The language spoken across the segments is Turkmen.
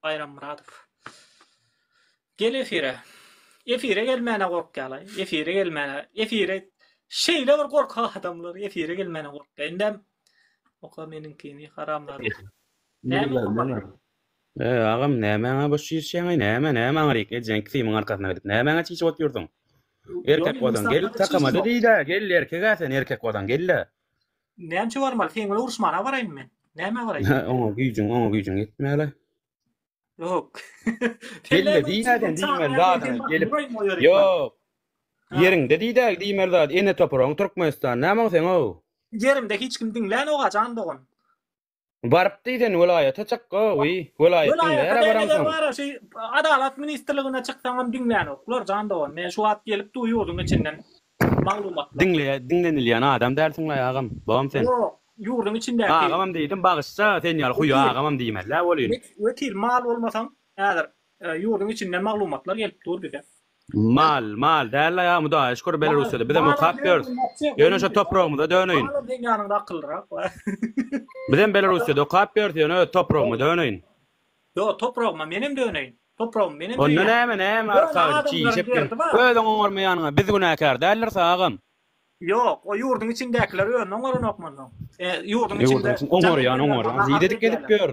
Baýrammyradow. Gel efire. Efire gelmäne gorkýalaý. Efire gelmäne. Efire şeýle bir gorkak adamlar efire gelmäne gorkýa. Indem oka meniňkini haramzada. Näme? E agam nämäňe boş çişýäňaý näme näme aňryk ejeň kimiň arkasyna gidip nämäňe çişip otyrdyň. Erkek bolsaň gel takamada diýdä gel erkegä sen erkek bolsaň gel-le. Näme üçin barmaly? Sen bilen uruşmana baraýyn men. Näme baraýyn? Oňa güýjüň, oňa güýjüň ýetmäle. Ýok. Gelme diýmeden diýmeli zadyň gelip. Ýok. Ýeriňde diýdä diýmeli zat. Ene topragyň Türkmenistan. Näme oň sen o? Ýerimde hiç kim diňlän oga jan dogan. Baryp diýsen welaýata çyk govy welaýatdan bära baransoň. Welaýata şu adalat ministrligine çyksaňam diňlänoklar jan dogan men şu wagt gelipdi ýurdyň içinden maglumatlar. Diňleýä diňlenilýän adam dälsiňlaý agam bogam sen. Ýok ýurdyň içindäki. Agamam diýdim bagyşça sen ýaly huýa agamam diýmelä bolýyn. Wekil mal bolmasaň häzir ýurdyň içinden maglumatlar gelip dur bize. Mal, mal däl la ýa Hudaýa şükür Belarusýada bizem okap ýörüs. Ýöne şo topragymyza döneýin. Malam seň ýanyňda akyllyrak bar. Bizem Belarusýada okap ýörüs ýöne öz topragyma döneýin. Ýok topragyma menem döneýin. Topragymy menem söýýän. Onda näme näme arkagyç çişek diýen. Özüň oňarma ýanyňa biz günäkär däldiris agam. Ýok o ýurduň içindäkiler özüni oňaranokmy onda? Ýurduň içinde. Ýurduň içinde oňarýan oňarýan. Nirede gezip ýör.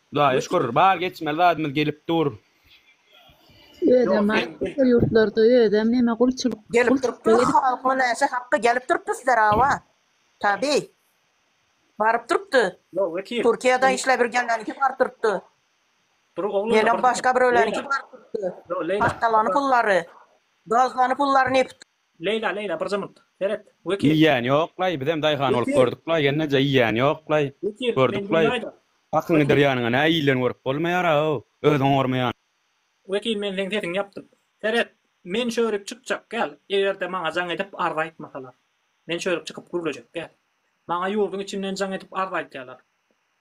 Hudaýa şükür, bar geçmeli zadymyz gelip dur. Özem baý köp ýurtlarda özem neme gulçulyk Gelip gulçulyk durupdyr, edip. halkyň näçe hakky gelip durupdyr sizlere hawa. Tabi. Baryp durupdy. Ýok Wekil. Türkiýede işläp ýürgenleriňki baryp durupdy. Dury oglum. Ýene başga biröwleriňki baryp durupdy. Ýok Leýla. Paşkalany pullary. Gazlany pullary ne. Leýla Leýla bir jymmyt. Seret. Wekil. Iýýäni ýoklaý, bizem daýhan bolup Wekil. gördüklaý, gelneje iýýäni ýoklaý, Wekil, men gördüklaý. diňläýdä. Hakyň gider Wekil. ýanyňa, nä iýilen görüp bolmaýara-ow, özüň oňarmaýan. Wekil men seň sesiňi ýapdym. Seret, men çörük çykjak gel, eger-de maňa jaň edip arz aýtmasalar. Men çörük çykyp gürlejek gel. Maňa ýurduň içinden jaň edip arz aýtýalar.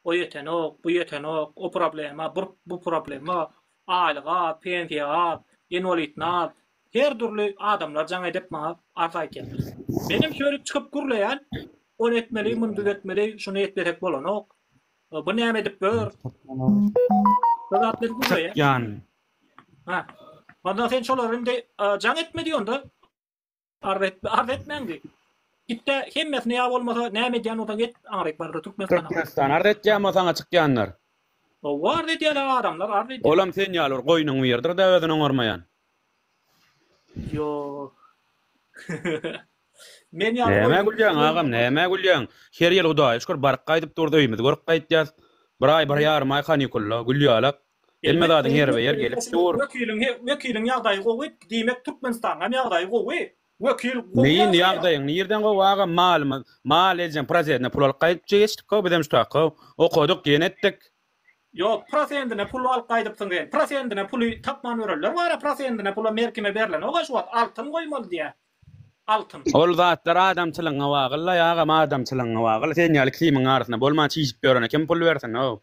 O ýetenok, bu ýetenok, o problema, bur, bu problema, aýlyk az, pensiýa az, inwalidni az, Her dürli adamlar jaň edip maňa arza aýtýarlar. Menem şeýdip çykyp gürleýän, ony etmeli, muny düzetmeli, şuny etmesek bolanok, bu näme edip ýör? Şo zatlar gürleýän. Ha. Onda sen şolara indi jaň etme diý onda. Arza etme, arza etmäň diý. Gitde hemmesini ýa bolmasa näme edýän bolsaň et, aňryk bar Türkmenistana. Türkmenistan arza etýän bolsa saňa çykýanlar. Howwa arza edýärler adamlar, arza edýär. Olam sen ýaly bir goýnuň biridir-de özüni oňarmaýan. Ýok. Men ýaly Nämä oýunlar gülýäň ýüzünden agam, bolmaz. nämä gülýäň? Her ýyl Hudaýa şükür baryp gaýdyp duruz, öýümizi görüp gaýtýas. Bir aý, bir ýarym aý kanikulda, gül ýalak. Hemme zadyň ýeri we ýer gelip dur. Wekiliň he, wekiliň ýagdaýy gowy, diýmek Türkmenistanyňam ýagdaýy gowy. Wekil gowy Neý indi ýaşaýar. ýagdaýyň nirden gowy agam, malymyz, mal eljäm prosedine pul alyp gaýdyp geçdik how, bizem şutak how, okaduk, diýen etdik. Ýok, prosendine pul alyp gaýdypsyň sen. Prosendine puly tapman ýörenler bar-a, prosendine pula merkime berlenok-a şu wagt, altyn goýmaly diýýär. Altyn. Ol zatlar adamçylygyňa bagly-laý agam, adamçylygyňa bagly. Sen ýaly kimiň arasynda bolman çişip ýörene kim pul bersin-ow?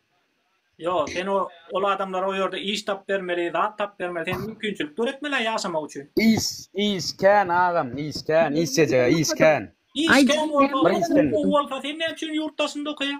Ýok, sen o, ol adamlara o ýerde iş tapyp bermeli, zat tapyp bermeli, sen mümkinçilik döretmeli-ä ýaşamak üçin. Iş, iş kän agam, iş kän, işlejeg-ä iş kän. Iş kän bolsa, iş gowy bolsa sen näme üçin ýurt daşynda okaýaň?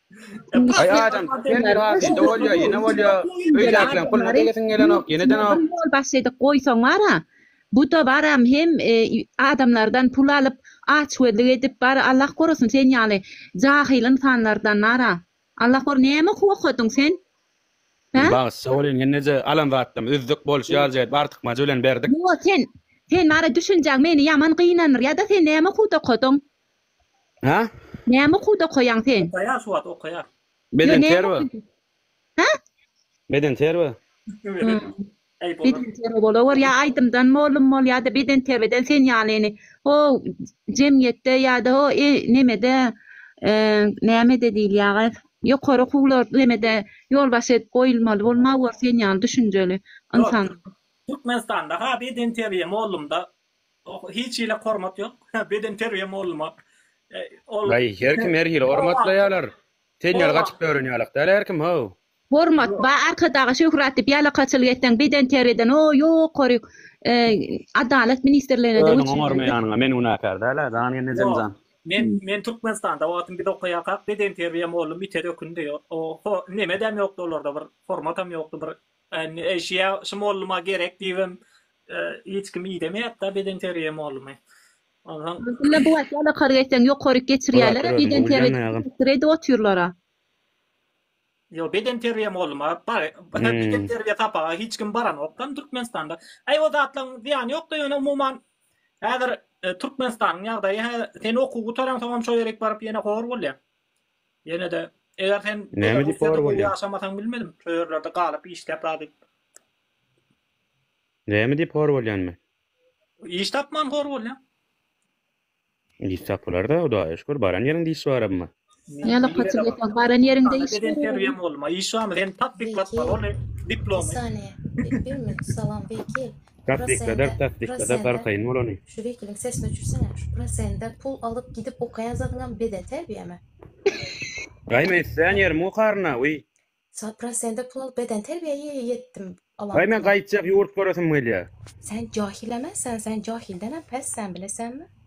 Ay adam sen bir abi indi bolýar, ýene bolýar. Öýdäkleň puluny degesiň gelenok, ýenedenok. Ol başlaýdyk goýsaň bara, bu dabaram hem e, adamlardan pul alyp, açgözlük edip bar, Allah gorasyn sen ýaly jahyl ynsanlardan bara. Allah gor, näme okup okadyň sen? Hä? Bagyş sag bolýn ýenneje alan zatdan üzdük boluş ýaly jaýyp artykmajy bilen berdik. Ýok sen, sen bara düşünjäň meni ýaman gynandyr ýa-da sen näme okuwda okadyň? Ha? Näme okuwda okaýaň sen? Okaýar şu wagt okaýar. Beden terbi. Ha? Beden terbi. Beden terbi bolawor ýa aýdymdan molum bol ýada beden terbiden sen ýaly ýni ho jemgyýetde ýada ho e nemede e nämede diýilýaga ýokary okuwlar nemede ýolbaşçy edip goýulmaly bolmawor sen ýaly düşünjeli ynsan. Türkmenistanda ha beden terbiýe molumda Oh hiç hili hormat yok beden terbiye molluma ol. Ay her kim her hili hormatlayalar Senýal gaçyp dörenýalak dal her kim how. Hormat ba arkadaga şöhrat dip ýalakaçylyk etseň beden terbiyeden o ýokary adalat ministrligine de Özüň oňarmaýanyňa men günäkär däl a jan ennejem jan. Men men Türkmenistanda wagtym biz okaýakak beden terbiye mollum ite dökündi o ho nemedem ýokdy olarda bir hormatam ýokdy bir Eý şiä şu molluma gerek diýibem hiç kim idemeýätda bedenteriýa mollumy. Onsoň. Ýöne bu wagt alakary geçseň ýokaryk geçirýäler-ä bedenteriýa edip otyrlar-a. Ýok bedenteriýa molluma bar bedenteriýa sapaga hiç kim baranokda Türkmenistanda. Eý o zatlaryň zyýany ýokda ýöne umuman häzir Türkmenistanyň ýagdaýy sen okuw gutaransoňam şo ýerik baryp ýene hor bolýaň. Ýene-de, eger sen Belarusda gowy ýaşamasaň bilmedim, şo ýerlerde galyp işläp zady. Näme diýip hor bolýan men? Iş tapman hor bolýan. Iş tapylar-da, Hudaýa şükür, baran ýeriňde iş bar emma. Ýa-da paçyk ýasak, baran ýeriňde iş bar. Interwýum bolma, iş barmy? Sen tapyk batmaly, ony diplomy. Bir saniýe, bir minut, salam, wekil. Prosende, prosende, şu wekiliň sesini öçürsene, şu prosende pul alyp gidip okaýan zadyňam beden terbiýemi? Gaý men islän ýerimi okaryna wiý. Sen prosende pul alyp beden terbiýe ýetdim alan. Gaý men gaýtjak ýurt göresim gelýär. Sen jahileme sen sen jahildenem pes sen bilesenmi?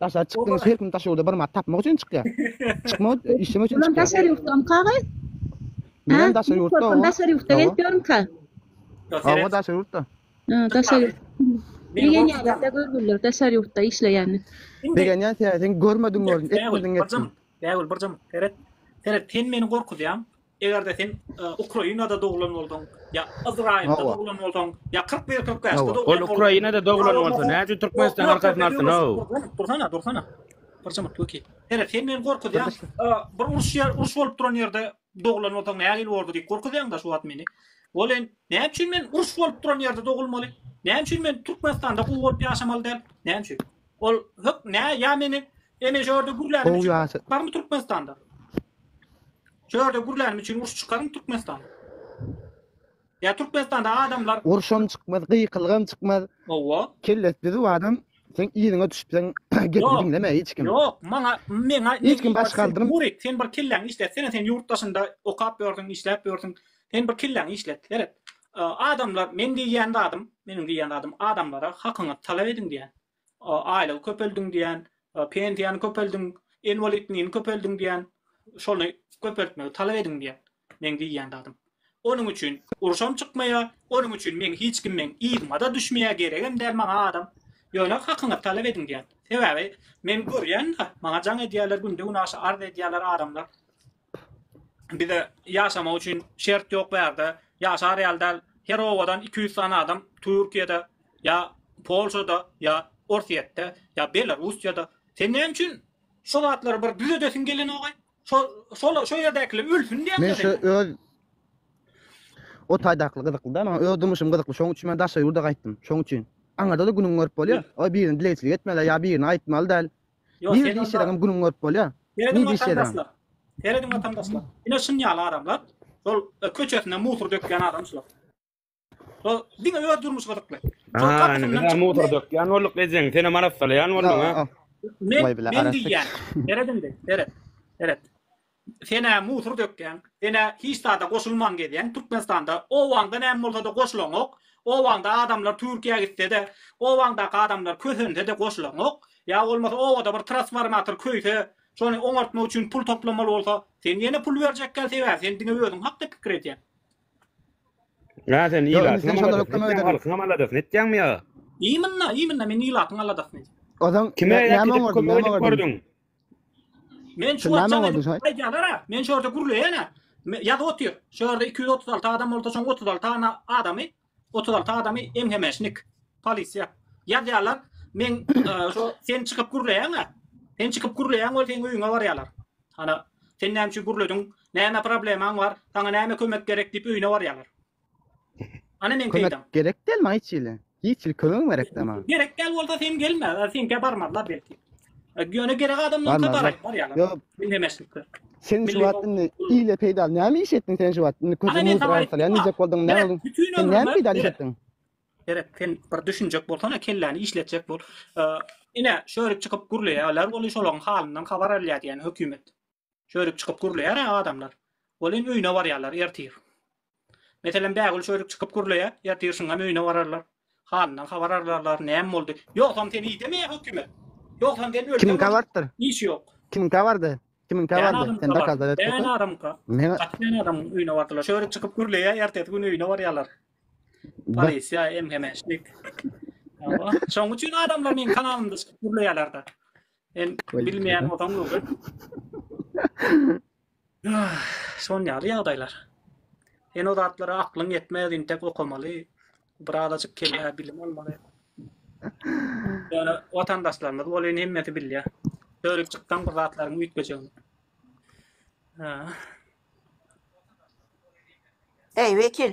Daşary çykdygyňyz her kim daş ýurda bir mat tapmak üçin çykýar. Çykmak işlemek üçin çykýar. Bulam daşary ýurtdanka gaý? Bilen daşary ýurtda owa. Daşary ýurtda gelip ýörünka. Owa daşary ýurtda. Ha daşary ýurt. Begenýärler görgüller daşary ýurtda işleýänini. Begenýän sen görmediň gördün etmediň etmediň. Bägül birjam seret. Seret sen meni gorkuzýaň. Eger-de sen Ukrainada doglan bolsaň, ýa Ysraýylda doglan bolsaň, ýa kyrk bir, kyrk bäşde doglan bolsaň. Ol Ukrainada doglan bolsa, näme üçin Türkmenistanyň arkasyny alypdy, no? Dursana, dursana. Bir jyňyrt wekil. Here, sen meni gorkuzýaň. Bir uruş ýer, uruş bolup duran ýerde doglan bolsaň, nähili bolardy diýip gorkuzýaň-da şu wagt meni. Welin, näme üçin men uruş bolup duran ýerde dogulmaly? Näme üçin men Türkmenistanda gowy bolup ýaşamaly däl? Näme üçin? Ol hök nä ýa meni eme jörde gürlänim üçin barmy Türkmenistanda? Jörde gürlänim üçin uruş çykarmy Türkmenistanda? Ýa Türkmenistanda adamlar urşam çykmaz, gykylygam çykmaz. Owa. Kellesi düzüp adam sen ýeriňe düşüpseň gepini diňleme hiç kim. Ýok, maňa meňa hiç kim baş galdyryp. Murik, sen bir kelläňi işlet. Sen sen ýurt daşynda okap ýörsüň, işläp ýörsüň. Sen bir kelläňi işlet, seret. Adamlar men diýýän zadym, meniň diýýän zadym adamlara hakyňyzy talap ediň diýýän. Aýlygy köpeldiň diýýän, pensiýany köpeldiň, inwalidligini köpeldiň diýýän. Şony köpeltmegi talap ediň diýýän. Meň diýýän zadym. Onuň üçin uruşam çykmaýar, onuň üçin meň hiç kim meň yzyma-da düşmeýär, geregem däl maňa adam. Ýöne hakyňyzy talap ediň diýýän. Sebäbi men görýän-de, maňa jaň edýärler, günde-günaşa arz edýärler adamlar. Bize ýaşamak üçin şert ýok bärde ýaşar ýaly däl her obadan iki ýüz sany adam Türkiýede ýa Polşada ýa Orsýetde ýa Belarusýada sen näme üçin şo zatlary bir düzedesiň gelenogay şo şola şo ýerdäkiler ölsün diýäňmi Men şu öz o taýdakly gyzykly da maňa öz durmuşym gyzykly şoň üçin men daşary ýurda gaýtdym şoň üçin aňada-da günüňi görüp bolýar o birini dilegçilik etmeli ýa birini aýtmaly däl Ýok, Nirede seredip işleseňem günüňi görüp bolýar. Serediň Nirede işleseňem. watandaşlar. Serediň watandaşlar. Ine şuny ýaly adamlar, şol e, köçesine musur dökýän adam şular. Şol diňe öz durmuşy gyzykly. Şol Aa, gapysyndan ne çykyp- motor dökýän bolduk ejeň. Seni marassalaýan boldum ha. Men Vay bile, men arastik. diýýän. Serediň de, seret. Seret. Sen-ä musur dökýäň, sen-ä hiç zada goşulman gezýäň Türkmenistanda. Obaňda näme bolsa-da goşulaňok. Obaňda adamlar Türkiýä gitse-de, obaňdaky adamlar kösense-de goşulaňok. Ýa bolmasa obada bir trasformator köýse, şony oňartmak üçin pul toplamaly bolsa, sen ýene pul berjekgä sebäbi sen diňe özüň hakda pikir edýäň. Ýa sen ilatyňam aladasyny etýäň, halkyňam aladasyny etýäňmi ýa? Imynna, imynna men ilatyň aladasyny edýän. Ozaň näme oňardyň, näme oňardyň? Men şu Şundan açan oldu, şaý. aýdýanlara, men şu ýerde gürleýäne. me- Ýazyp otyr. Şu ýerde 236 adam bolsa, şoň 36 tane adamy, 36 adamy MHMŞnik, polisiýa. Ýazýarlar, men e, şu sen çykyp gürleýäňä. Sen çykyp gürleýäň ol seň öýüňe barýarlar. Ana, sen näme üçin gürlediň? Näme problemaň bar? Saňa näme kömek gerek diýip öýüne barýarlar. Ana men Kömek peýdam. gerek däl maňa hiç hili. Hiç hili kömegiň gerek däl maňa. Gerek däl bolsa sen gelme. a, Seňkä barmazlar belki. E, Ýöne gerek adamlaryňka Barmazlar. baraýyn barýarlar. Ýok. Bilnemezlikler. Sen şu Milli wagt ýol- indi ile peýdaly näme iş etdiň sen şu wagt? Indi Ana köze men mudur saňa aýtdym, arsalýan diýjek bolduň, näme Beren, bolduň? Bütin Sen näme ömrümi peýdaly iş beren. etdiň? Beren, sen bir düşünjek bolsana, kelläni işletjek bol. E, Ine, şörip çykyp gürleýärler, ol şolaryň halyndan habar alýar diýýän hökümet. Çörük çykyp gürleýär-ä adamlar. Welin öýüne barýarlar ertir. Meselem, Bägül çörük çykyp gürleýär, ertir şuňam öýüne bararlar. Halyndan habar alarlar, näme boldy? Ýogsam seni idemeýär hökümet. Ýogsam sen ölseň Kimiňkä barypdyr? Iş ýok. Kimiňkä bardy? Kimiňkä Däne bardy? Sen adamyňka bar. dakazlar etdi. Däne adamyňka. Meň Gaty däne adamyň öýüne bardylar. Çörük çykyp gürleýär, ertesi gün öýüne barýarlar. Polisiýa, MHM-şnik. Ýa-wah. Şoň üçin adamlar meniň kanalymda çykyp gürleýärler-de. Sen bilmeýän bolsaň öwret. Şon ýaly ýagdaýlar. Sen o zatlara aklyň ýetmez, intek okamaly, birazajyk kellä bilim almaly. Ýöne watandaşlarymyz bolýan hemmesi bilýär. Dörik çyksaň bir zatlaryň üýtgejegini. Eý, wekil,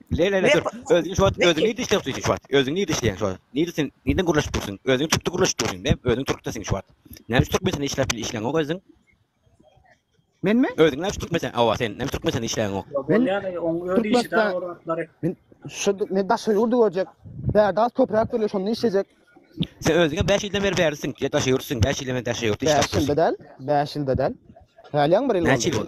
Le le le dur. Özüňi şu wagt özüňi diş ýokdy şu wagt. Özüňi diş ýeň şu wagt. Nirde sen nirden gürleşip dursun? Özüňi tutdu gürleşip dursun. Ne özüň turkda sen şu wagt. Näme şu turkmen sen işläp bil işleň ok özüň. Men mi? Özüňi näme şu turkmen sen awa sen. Näme turkmen sen işleň ok. Ben ýa-da oň öz işi däl ol atlary. Men şu men daşa ýurdy görjek. Bäde az toprak bölüş onu işlejek. Sen özüňe 5 ýyldan beri bärisin. Ýa daşa ýurtsun 5 ýyldan beri daşa ýurtda işläp. 5 ýylda däl. 5 ýylda däl. Hälýaň bir ýyl. Näçe ýyl?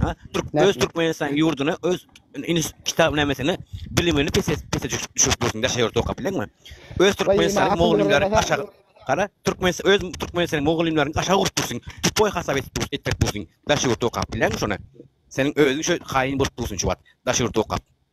Ha, Türk öz Türkmenistan ýurduna öz iniş kitap nämesini bilimini pese pese düşürip dursun daşa ýurt okap bilenmi? Öz Türkmenistan mugallymlary aşa gara Türkmen öz Türkmenistan mugallymlaryny aşa gurup dursun. Tupoy hasap edip dursun etdirip dursun daşa ýurt okap bilenmi şony? Seniň özüň şu haýyn bolup dursun şu wagt daşa ýurt okap.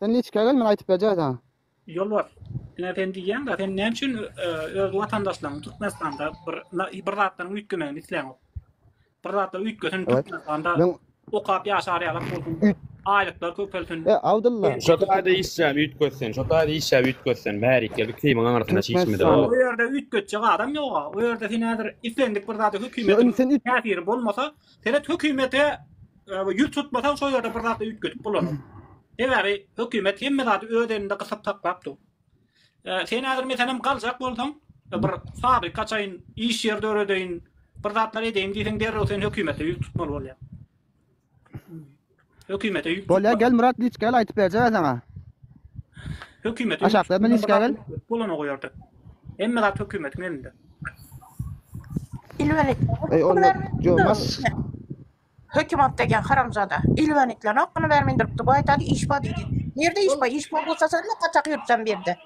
Sen niçika gel men aýtyp berjä saňa. Ýolbars ine sen diýýäňdä sen näme üçin öz watandaşlaryň Türkmenistanda bir bir zatlaryň üýtgemegini isläňok. Bir zatlar üýtgesin Türkmenistanda okap ýaşar ýalak bolsun aýlyklar köpelsin. E Abdylla. Şo taýda işläp üýtgetsen şo taýda işläp üýtgetsen bärikge bir kimiň aňyrsyna çişmedi. O ýerde üýtgetjek adam ýoga o ýerde sen häzir islendik bir zady hökümetiň täsiri bolmasa Seret hökümete ýüz tutmasaň şo ýerde bir zat üýtgedip bolanok. Sebäbi hökümet hemme zady öz elinde gysyp saklap dur. Sen häzir meselem galjak bolsaň, bir fabrik açaýyn, iş ýeri döredeýin, bir zatlar edeýin diýseň derrew sen hökümete ýüz tutmaly bolýaň. Hökümete ýük. Bolýa gel Murat niçik gel aýdyp berjek saňa. Hökümete ýük. Aşakda men niçik gel. Bolana goýardy. Hemme zat hökümetiň elinde. Ilwenik. Ey onda jomas. Hökümet degen haramzada. Ilwenikler hakkını bermeýin durupdy. Bu aýtady iş bar diýdi. Nirde iş bar? Iş bar bolsa sen ne kaçak ýürtsen birde.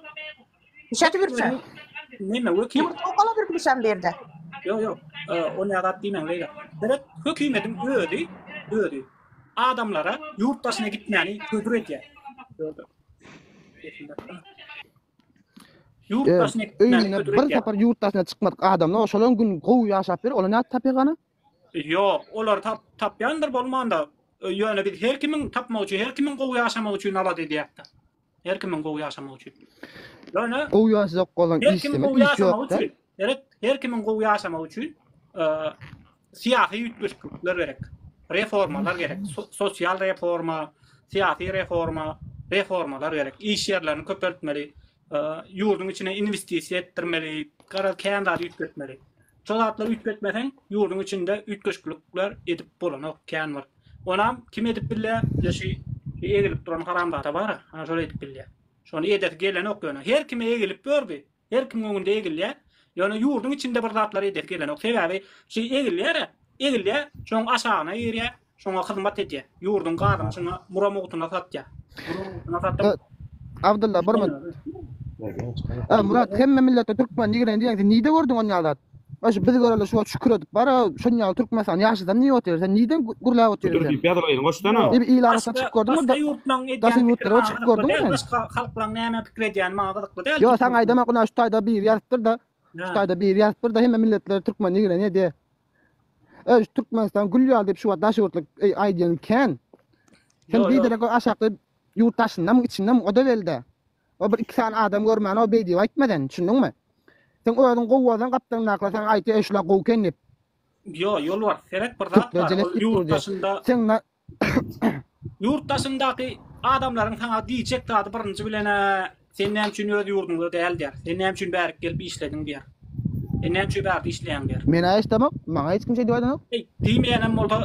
Şeýdip ýürse. Neme wekil? Ýurt okala bir bilişen berde. Ýok, ýok. Ony ýadap diýmäň beýle. Gerek hökümetiň özi, özi adamlara ýurt daşyna gitmäni hödür edýär. Ýurt daşyna gitmäni hödür edýär. Bir sapar ýurt daşyna çykmadyk adamlar oşalan gün gowy ýaşap bir, olar nädip tapýar gana? Ýok, olar tap tapýandyr bolmanda, ýöne biz her kimiň tapmagy üçin, her kimiň gowy ýaşamagy üçin alada edýäris. Her kimiň gowy ýaşamagy üçin. Ýöne Gowy ýaşajak bolan her kimiň gowy ýaşamagy üçin, gerek her kimiň gowy ýaşamagy üçin syýasy üýtgeşiklikler gerek. Reformalar gerek. Sosial reforma, syýasy reforma, reformalar gerek. Iş ýerlerini köpeltmeli, ýurduň içine investisiýa etdirmeli, garaz kän zat üýtgetmeli. Şol zatlary üýtgetmeseň, ýurduň içinde üýtgeşiklikler edip bolanok, kän bir. Onam kim edip bilýä? Ýa şu egilip duran haramzada bara, ana şol edip bilýä. Şony edesi gelenok ýöne. Her kime egilip gördi. Her kimiň öňünde egilýä. Ýöne ýurduň içinde bir zatlar edesi gelenok. Sebäbi şu egilýär-ä, egilýä, şoň aşagyna girýä, şoňa hyzmat edýä. Ýurduň gazyny şuňa mura mugtuna satýa. Mura mugtuna satyp. Abdylla bir minut. Murat hemme millete türkmen ýigren diýýäň sen nide gördüň onýa zat? Baş biz göreli şu şükür edip bar. Şun ýaly Türkmenistan ýaşadan niýe otyr? Sen niýden gürläp otyr? Dur diýip ýazyp aýdyň goşdana. Ýa il arasy çyk gördüň mi? Başga ýurtlaryň edýän ýurtlara çyk gördüň mi? Başga halklaryň näme pikir edýän maňa gyzykly däl. Ýa sen aýdama guna şu taýda bir ýazypdyr da. Şu taýda bir ýazypdyr da hemme milletler türkmen ýigren ýedi. Öý Türkmenistan gül ýaly diýip şu wagt daş ýurtly aýdýan kän. Sen bir derek aşakda ýurt daşynda mı içinde mi o da belde. Ol bir iki sany adam görmän ol beý diýip aýtma sen, düşündiňmi? Seň özüň gowy bolsaň gapdalyndakylar saňa aýtýar eý şular gowy eken diýip. Ýo, Ýolbars, serek bir zat bar, ol ýurt daşynda ýurt daşyndaky adamlaryň saňa diýjek zady birinji bilen-ä sen näme üçin öz ýurduňda däl diýer, sen näme üçin bärik gelip işlediň diýer. E näme üçin bagt işleýäň der. Menä hiç demok, maňa hiç kim şeýdip aýdanok. Eý, diýmeýänem bolsa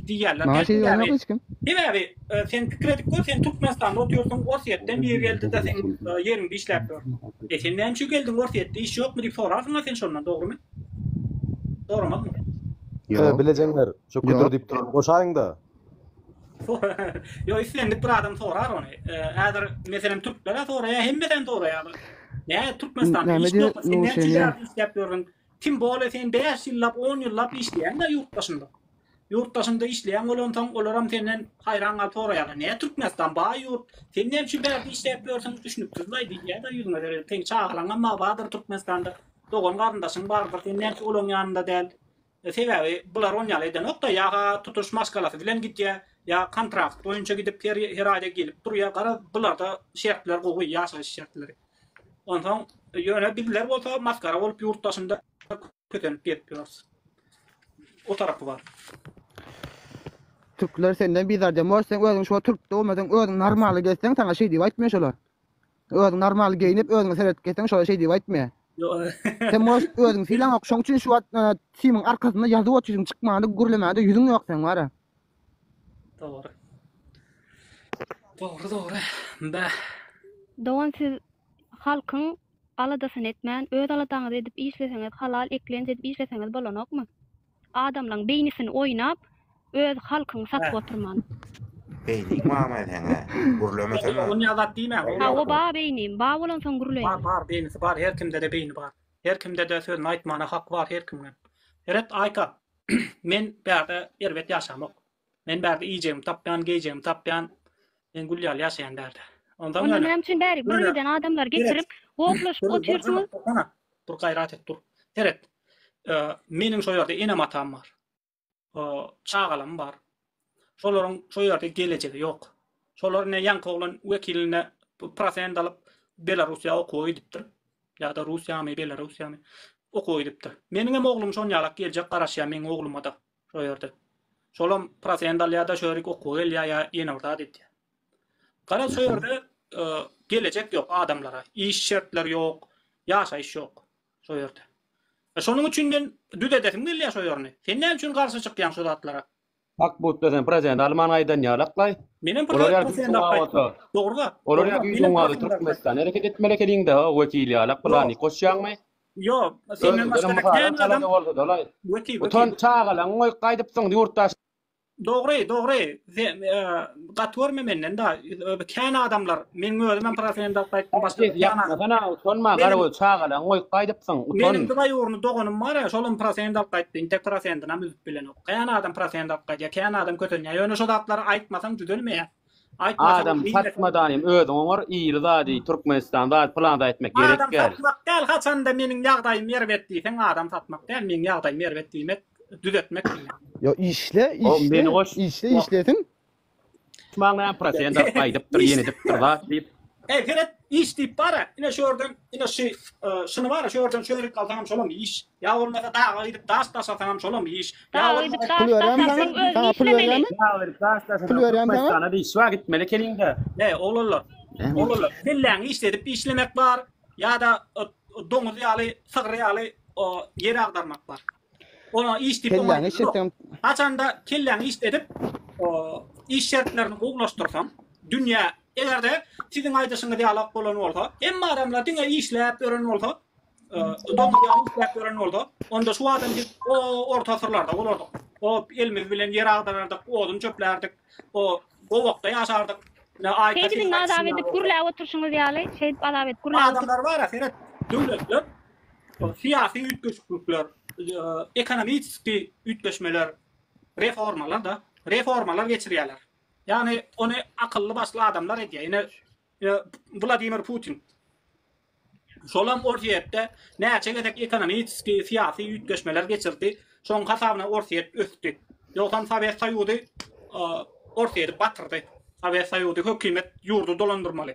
diýýärler. Maňa şeýdip aýdanok hiç kim. Sebäbi sen pikir edip gör, sen Türkmenistanda oturýarsyň, Orsýetden biri geldi-de seň ýeriňde işläp ýör. Eý, sen näme üçin geldiň, Orsýetde iş ýokmy diýip sorarsyň-a sen şondan, dogrymy? Soramazmy? Ýok. Bilejeňler, şo küdür diýip duran goşaýyň-da. Ýok, islendik bir adam sorar ony. Häzir meselem türklere soraýar, hemmeden soraýar. Nä Türkmenistan iş ýok, sen näçe ýyllap işläp ýörüň? Tim bole sen 5 ýyllap, 10 ýyllap işleýäň-de ýurt daşynda. Ýurt daşynda işleýän bolansoň, olar hem senden haýran galyp soraýarlar. Nä Türkmenistan baý ýurt, sen näme üçin bärde işläp ýörsüň? Düşünipsiz baý diýýär-de ýüzüňe seredip. Seň çagalaň hem bardyr Türkmenistanda. Dogan-garyndaşyň bardyr. Sen näme üçin olaryň ýanynda däl? Sebäbi bular on ýaly edenok-da, ýa-ha tutuş maşgalasy bilen gidýär, ýa kontrakt boýunça gidip her aýda gelip durýar. Garaz, bularda şertler gowy, ýaşaýyş şertleri. Onsoň, ýöne bizler bolsa masgara bolup ýurt daşynda kösenip gezip ýörüs. O tarapy bar. Türkler senden bizarden bor, sen özüň şo türk dogmadyň, özüň normaly gezseň, saňa şeý diýip aýtmaýar şolar. Özüň normal geýinip özüňe seredip gelseň şola şeý diýip aýtmy. Sen moş özüň sylaňok şoň üçin şu wagt timiň arkasynda ýazyp otyrsyň çykmanda gürlemände ýüzüň ýok seň wara. Dogry. Dogry dogry. Bäh. Dogan siz halkyň aladasyny etmän öz aladaňyzy edip işleseňiz halal eklenç edip işleseňiz bolanokmy. Adamlaň beýnisini oýnap öz halkyňy satyp oturman. Beýni mama seňe gürlemesene. Ony azat diýmäň. Hawa bar beýnim, bar bolansoň gürleýin. Bar bar beýnisi bar her kimdede beýni bar. Her kimdede sözüni aýtmana haky bar her kimiň hem. Eret Aýka men bärde erbet ýaşamok. Men bärde iýjegimi tapýan, geýjegimi tapýan, men gül ýaly ýaşaýan bärde. Onsoň Onda ýöne, näme üçin bärik ýöne, birgiden adamlary seret, getirip, goplaşyp dur, dur, jana, otyrsňyz? tursana, dur, gaýrat et, dur. Seret, e, meniň şo ýerde enem-atam bar, e, çagalarym bar. Şolaryň şo ýerde gelejegi ýok. Şolar ine ýaňky oglan wekiline p, prosent alyp, Belarussiýa okuwa gidipdir. Ýa-da Russiýamy, Belarussiýamy okuwa gidipdir. Meniňem oglum şon ýalak geljek garaşýar, meniň ogluma-da. Şo ýerde. Şolam prosent alýar-da, şörik okuwa gelýär ýa ýene bir zat edýär. Garaz şo ýerde gelejek ýok adamlara, iş şertleri ýok, ýaşaýyş ýok şo ýerde. Şonuň üçin men düzedesim gelýär şo ýerini. Sen näme üçin garşy çykýaň şu zatlara? Hak butda sen prosent alman aýdan ýaly aklaý. Menem prosent alman. Dogry-da. Olar ýa-da Türkmenistan hereket etmeli ekeniň-dä, wekil ýalak, pylany goşýaňmy? Ýok, senden başga-da kän adam wekil. Utanç çagalaň goýup gaýdypsyň ýurtdaş. Dogry, dogry. Gaty görme menden da. Kän adamlar, meň özüm hem profilimde alyp gaýtdym, başga kän adam. Utanma, utanma, garagöz çagalaň goýup gaýdypsyň. Utan. Meniň bir aý ugruny doganym bar, şolam profilimde alyp gaýtdy. Intek profilimden hem üzüp bilenok. Kän adam profilimde alyp gaýdýar, kän adam kösenýär. Ýöne şo zatlary aýtmasaň düzelmeýär. Adam satmadan hem özüň oňar iri zady Türkmenistan zady pylan zady etmek gerek däl. Adam satmak däl haçanda meniň ýagdaýym erbet diýseň adam satmak däl meniň ýagdaýym erbet diýmek düzetmek diýmek. Ýa işle işle işle işlesiň. Maňa näme prosen daryp aýdypdyr ýene edipdir zat diýip. Eý seret iş diýip bara ine şu ýerden ine şu şuny bara şu ýerden şöýrüp galsaňam şolam iş. Ýa bolmasa daga gidip daş daşasaňam şolam iş. Daga gidip daş daşasaň özüň işlemeli. Daga gidip daş daşasaňam Türkmenistana diş bar gitmeli keliňde. He oglanlar. Oglanlar kelläňi işledip işlemek bar ýa-da doňuz ýaly sygyr ýaly ýeri agdarmak bar. Oňa iş diýip oňa işleseňem haçanda kelläňi işledip iş şertlerini gowulaşdyrsaň dünýä egerde siziň aýdyşyňyz ýalak bolan bolsa hemme adamlar diňe işläp ýören bolsa Doldurýan isläp gören bolsa, onda şu adam biz o orta asyrlarda bolardyk. O elimiz bilen ýer agdarardyk, odun çöplärdik, o gowakda ýaşardyk. Şeýdiliň azap edip gürläp oturşyňyz ýaly, şeýdip azap edip gürläp. Adamlar bar, seret. Döwletler, syýasy üýtgeşiklikler, ekonomiki üýtgeşmeler, reformalar da, reformalar geçirýärler. Ýagny ony akylly başly adamlar edýär. Ine Wladimir Putin. Şolam Orsýetde näçe gezek ekonomiki, syýasy üýtgeşmeler geçirdi, şoň hasabyna Orsýet ösdi. Ýogsam Sowet Soýuzy Orsýeti batyrdy. Sowet Soýuzy hökümet ýurdy dolandyrmaly.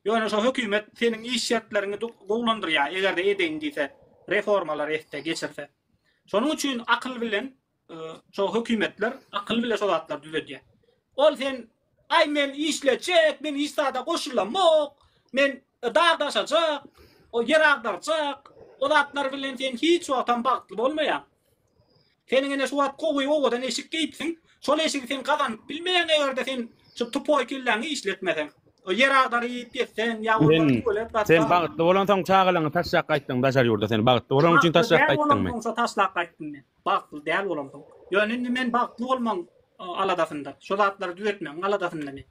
Ýöne şo hökümet seniň iş şertleriňi gowulandyrýar, eger-de edeýin diýse, reformalar etse, geçirse. Şonuň üçin akyl bilen Şo hökümetler akyl bile şo zatlar düzedýä. Ol sen ay men işlejek, men hiç zada goşulamok, men dag daşajak, o yer agdarjak, o zatlar bilen sen hiç wagtam bagtly bolmaýa. Seniň ene şu wagt gowy owadan eşik geýipsiň, şol eşigi sen gazanyp bilmeýäň eger-de sen şu tupoý kelläňi işletmeseň. O ýer agdaryp ýetseň ýa bolmasa tuwalet gaçsaň. Sen bagtly bolansoň çagalaňy taşlap gaýtdyň daşary ýurda sen bagtly bolan üçin taşlap gaýtdyňmy? Şo taşlap gaýtdym men. Bagtly däl bolamsoň. Ýöne indi men bagtly bolmaň aladasynda. Şo zatlary düzetmegiň aladasynda men.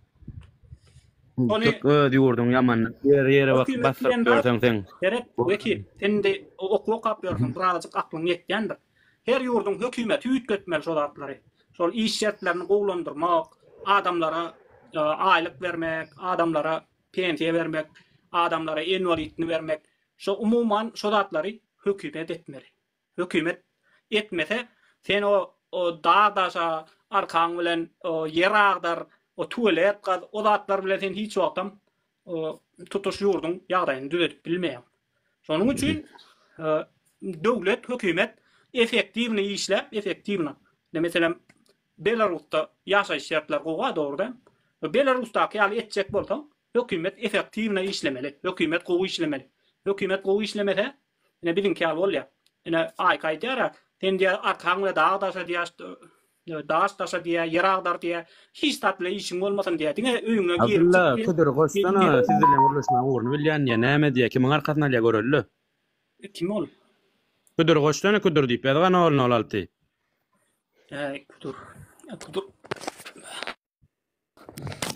Ony Tut öz ýurduň ýaman. Ýere ýere basyp basyryp ýörseň sen. Seret, Wekil, sen indi okuw okap ýörseň, birazajyk aklyň ýetýändir. Her ýurduň hökümeti üýtgetmeli şo zatlary. Şol iş şertlerini gowulandyrmak, adamlara aýlyk bermek, adamlara pensiýa bermek, adamlara inwalidini bermek, şo umuman şo zatlary hökümet etmeli. Hökümet etmese sen o dag daşa arkaň bilen o ýer agdar o tualet gaz o zatlar bilen sen hiç wagtam tutuş ýurduň ýagdaýyny düzedip bilmeýäň. Şonuň üçin döwlet hökümet efektiwny işläp efektiwny ine meselem Belarusda ýaşaýyş şertler gowa dogry däl. Belarusdaky ýaly etjek bolsaň Hökümet efektiwno işlemeli, hökümet gowy işlemeli. Hökümet gowy işlemese, ine biziňki ýaly bolýar. Ine Aýka aýdýar-a, sen diýýä arkaň bilen dag daşa diýýä, daş daşa diýýä, ýer agdar diýýä, hiç zat bilen işiň bolmasyn diýýä, diňe öýüňe girip çyk diýýä. Abdylla ködir goşsana, siz bilen gürleşmegiň ugruny bilýän diýýä, näme diýýä, kimiň arkasyny alýa göreli. Kim ol? Küdür goşsana küdür diýip ýaz gana ogluna ol alty. Äý küdür. Küdür.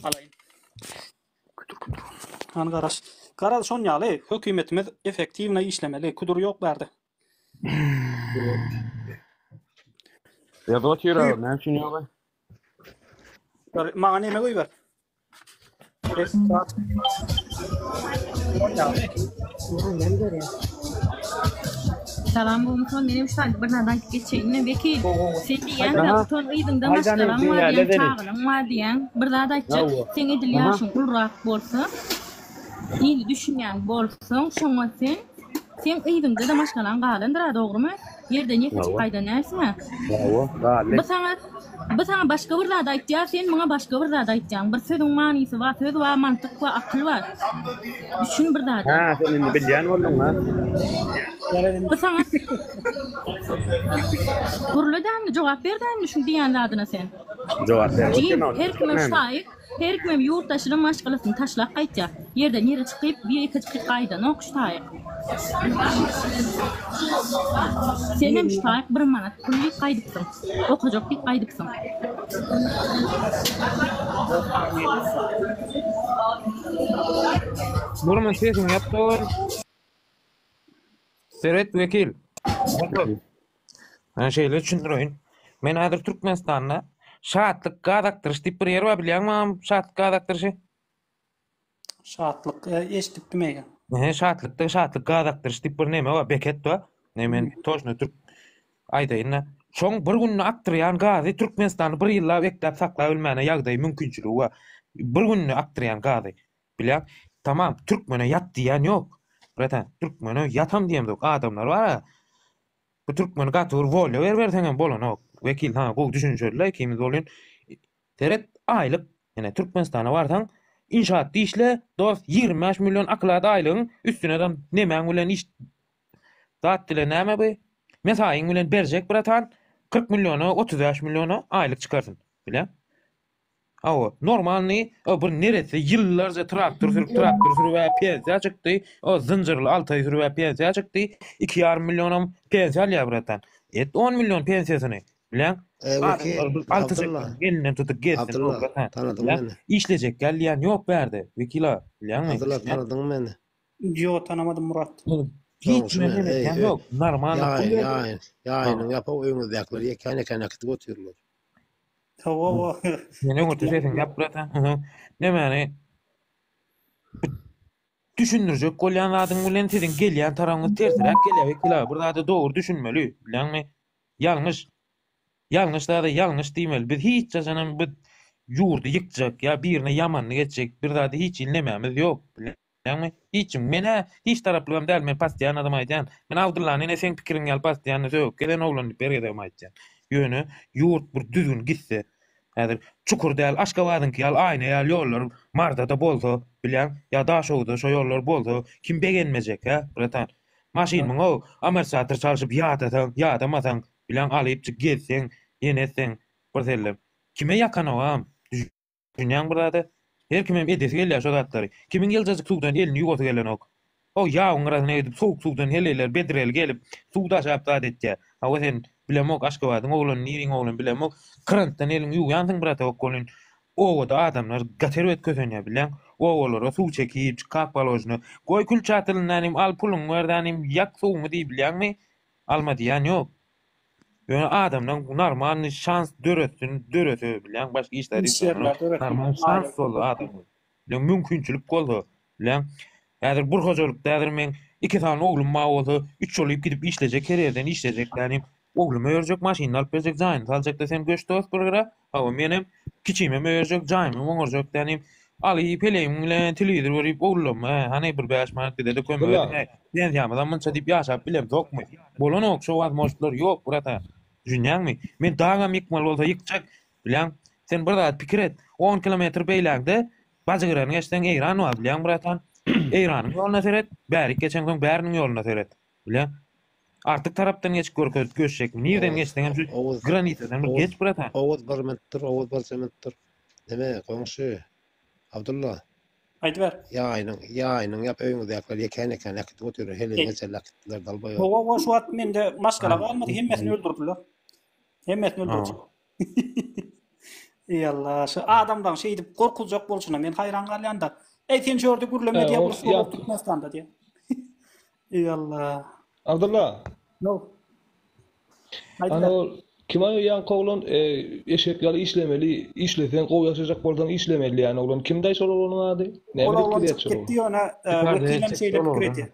Alaýyn. Küdür küdür. Han garaş. Garaz şon ýaly hökümetimiz efektiwna işlemeli. Küdür ýok bärde. Ýazyga çyra näme üçin ýaly? Maňa näme goýber? Salam Gumton menem şu saýt bir zat aýdyp geçeýinmi Wekil sen diýýäň Aha. Gumton yzyňda Aýdany maşgalaň diýýär, bar diýýäň lebeni. çagalaň bar diýýäň bir zat aýtjak Hawa. seň edil Aha. ýaşyň gulrak bolsa ýyly düşünýän bolsaň şoňa sen seň yzyňda-da maşgalaň galandyr-a dogrymy? Ýerden ýeke çyk gaýda närsine. Hawa, gally. Bu saňa bu saňa başga bir zat aýtýar, sen muňa başga bir zat aýtýaň. Bir sözüň manysy bar, söz bar, mantyk bar, akyl bar. Düşün bir zada. Hä, sen indi bilýän bolduň, ha? Bu saňa Gürle dämli, jogap ber dämli şuň diýýän zadyna sen. Jogap ber. Jim, her kime şaýyk. Herkimem ýurt daşyna maşgalasyny taşlap gaýtýar. Ýerden ýere çykyp, bir ikijik gaýdanok şu taýyk. Senem şu taýyk bir manat pul iýip gaýdypsyň. Okajak diýip gaýdypsyň. Burma sesiňi ýap dogan. Seret wekil. Otur. Maňa şeýle düşündireýin. Men häzir Türkmenistanda Şatlyk gaz akdyryş diýip bir ýer bar bilýäňmi mam Şatlyk gaz akdyryşy? Şatlyk e, eşitdim eýe. Ehe, Şatlykda Şatlyk gaz akdyryş diýip bir neme bar, beket bar. Ne men toşna türk aýdaýyn-da. Şoň bir günde akdyrýan gazy Türkmenistanda bir ýyllap ekläp saklap bilmäne ýagdaýy mümkinçiligi bar. Bir günde akdyrýan gazy. Bilýän, tamam, türkmene ýat diýýän ýok. Bratan, türkmene ýatam diýemzok. Adamlar bar-a, bu türkmeni gaty bir wolýa beriberseň hem bolanok. Wekil saňa gowy düşünişerli-le, ikimiz welin, seret, aýlyk, ine, Türkmenistana barsaň, inşaatda işle, dost, ýigrimi bäş million oklad aýlygyň, üstüne-de nemäň bilen iş, zat dile näme bi, mesaýyň bilen berjek, bratan, kyrk milliona, otuz bäş milliona aýlyk çykarsyn. Bilýän? Hawa, normalny, o bir neresse ýyllarja traktor sürüp, traktor sürüp ä pensiýa çykdy, o zynjyrly altaý sürüp ä pensiýa çykdy, iki ýarym millionam pensiýa alýar bratan. Et on million pensiýasyny, bileň. Adamlar bir alty çekeniň elinden tutup gezsin, o bratan. Işlejek gelýän ýok bärde, wekil aga, bilýäňmi? Abdylla, tanadyňmy meni? Ýok, tanamadym, Murat. Hiç kime men edýänim ýok, normalny pul berdim. Ýaýyň, ýaýynyň ýapyk öýüňizdäkiler ýekän-ýekän äkidip otyrlar. Hawa, hawa. Meni öňürti sesiň gep gurasan. Nämeni düşündirjek bolýan zadyň bilen siziň gelýän tarabyňyz tersiräk gelýär wekila. Bir zada dogry düşünmeli, bilýäňmi? Ýalňyş. Ýalňyş zada ýalňyş diýmeli. Biz hiç haçanam bu ýurdy ýykjak ýa birine ýamanyny etjek bir zady hiç hili nemämiz ýok. Ýagny, hiç kim. Men-ä hiç taraplygam däl, men passiýan adam aýdýan. Men Abdyllany ine seň pikiriň ýaly passiýanny sögüp gezen oglan diýip her gezegem aýtýan. Ýöne, ýurt bir düzgün gitse, häzir çukur däl Aşgabadyňky ýaly aýna ýaly ýollar Marda-da bolsa, bilýäň, ýa Daşoguzda şo ýollar bolsa, kim begenmejek, hä, bratan? Maşyn mün-ow, amortizator çalşyp ýadasaň, ýadamasaň, bilýäň, alypjyk gezseň, ýene etseň, birsellem. Kime ýakanogam, düş. Dünýäň bir zady. Her kimem edesi gelýär şo zatlary. Kimiň ýyljajyk suwdan elini ýuwasy gelenok. O ýabyň gyrasyna gidip sowuk suwdan heleýler bedrel gelip suw daşap zat etýär. Hawa sen, bilemok Aşgabadyň oglany niriň oglan bilemok, krantdan eliňi ýuwýansyň bratok welin obada adamlar gaty erbet kösenýär bileň. Obalara suw çekip, çykap galožny. Goý kül çatylyndan hem al puluňy berdan hem ýak suwuňy diýip bilýäňmi? Alma diýýän ýok. Ýöne adamlaň narmalny şans döretsin dörese bilýän başga işler işlemek narmal şans bolsa adam bilen mümkinçilik bolsa bilýän häzir bir hojalykda häzir men iki sany oglum bar bolsa üç ýolyp gidip işlejek her ýerden işlejek ýaly ogluma örjek maşynyny alyp berjek jaýyny saljakda sen göç dos bir gyra Hawa, menem kiçime möýerjek, jaýymam oňarjak dänim. Aly, pelegiň bilen telewizor görüp owlama, hany bir bäş manat bize-de kömek ediň-ä. Pensiýamyzam munça diýip ýaşap bilemzokmy? Bolanok, şo wazmožtlar ýok, bratan. Düşünýäňmi? Men dagam ýykmaly bolsa ýykjak, biläň. Sen bir zat pikir et, on kilometr beýlägde Bajygyrany geçseň, Eýran bar, biläň, bratan. Eýranyň ýoluna seret, bärik geçeňsoň, bäriniň ýoluna seret. Bile. Artyk tarapdan geçip görkezip göçjekmi? Nirden geçseňem şu granitadan bir geç brata. Oguz bir minut dur, Oguz bir minut dur. Neme goňşy? Abdulla. Aýdyber. Ýaýynyň, ýaýynyň ýap öýüňizdäkiler ýekän-ýekän äkidip otyr. Heleý geçerli äkitdiler dalbaýa. Hawa, şu wagt mende maşgala galmady, hemmesini öldürdiler. Hemmesini öldürdiler. Eý Allah, şu adamlaň şeýdip gorkuljak bolşuna men haýran galýan-da. Eý sen şu ýerde gürleme diýýär, urus bolýar Türkmenistanda diýýär. Eý Allah. Abdulla. No. Ana ol kim aýa ýaňky oglan e, eşek ýaly işlemeli, işleseň gowy ýaşajak bolsaň işlemeli ýaly oglan kim daýy şol oglanyň ady? Näme diýip gidýär şol? Gitdi ýöne e, wekilem şeýle pikir etdi.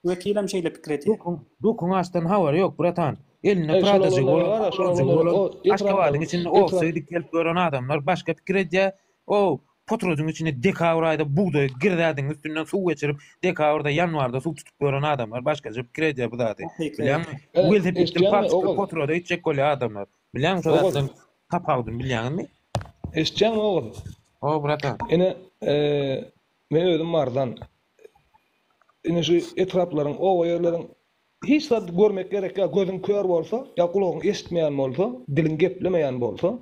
Wekilem şeýle pikir edýär. Dokuň açdan habary ýok, bratan. Elinde pradajygy bolan, oturjygy bolan, Aşgabadyň içinde owsy dikelip ýören adamlar başga pikir edýär. O potrodyň içinde dekabr aýda bugdaýy girzädiň, üstünden suw geçirip, dekabrda, ýanwarda suw tutup ýören adamlar başgaça pikir edýär bu zady. Bilýäňmi? Bu welosipedden palçykly potroda gitjek bolýar adamlar. Bilýäňmi şo zatdan tapawudyny bilýäňizmi? Eşitýäňmi ogul? Hawa, bratan. Ine, men özüm marzan. indi şu etraplaryň, oba ýerleriň hiç zat görmek gerek ýok. Gözüň kör bolsa, ýa gulagyň eşitmeýän bolsa, diliň geplemeýän bolsa,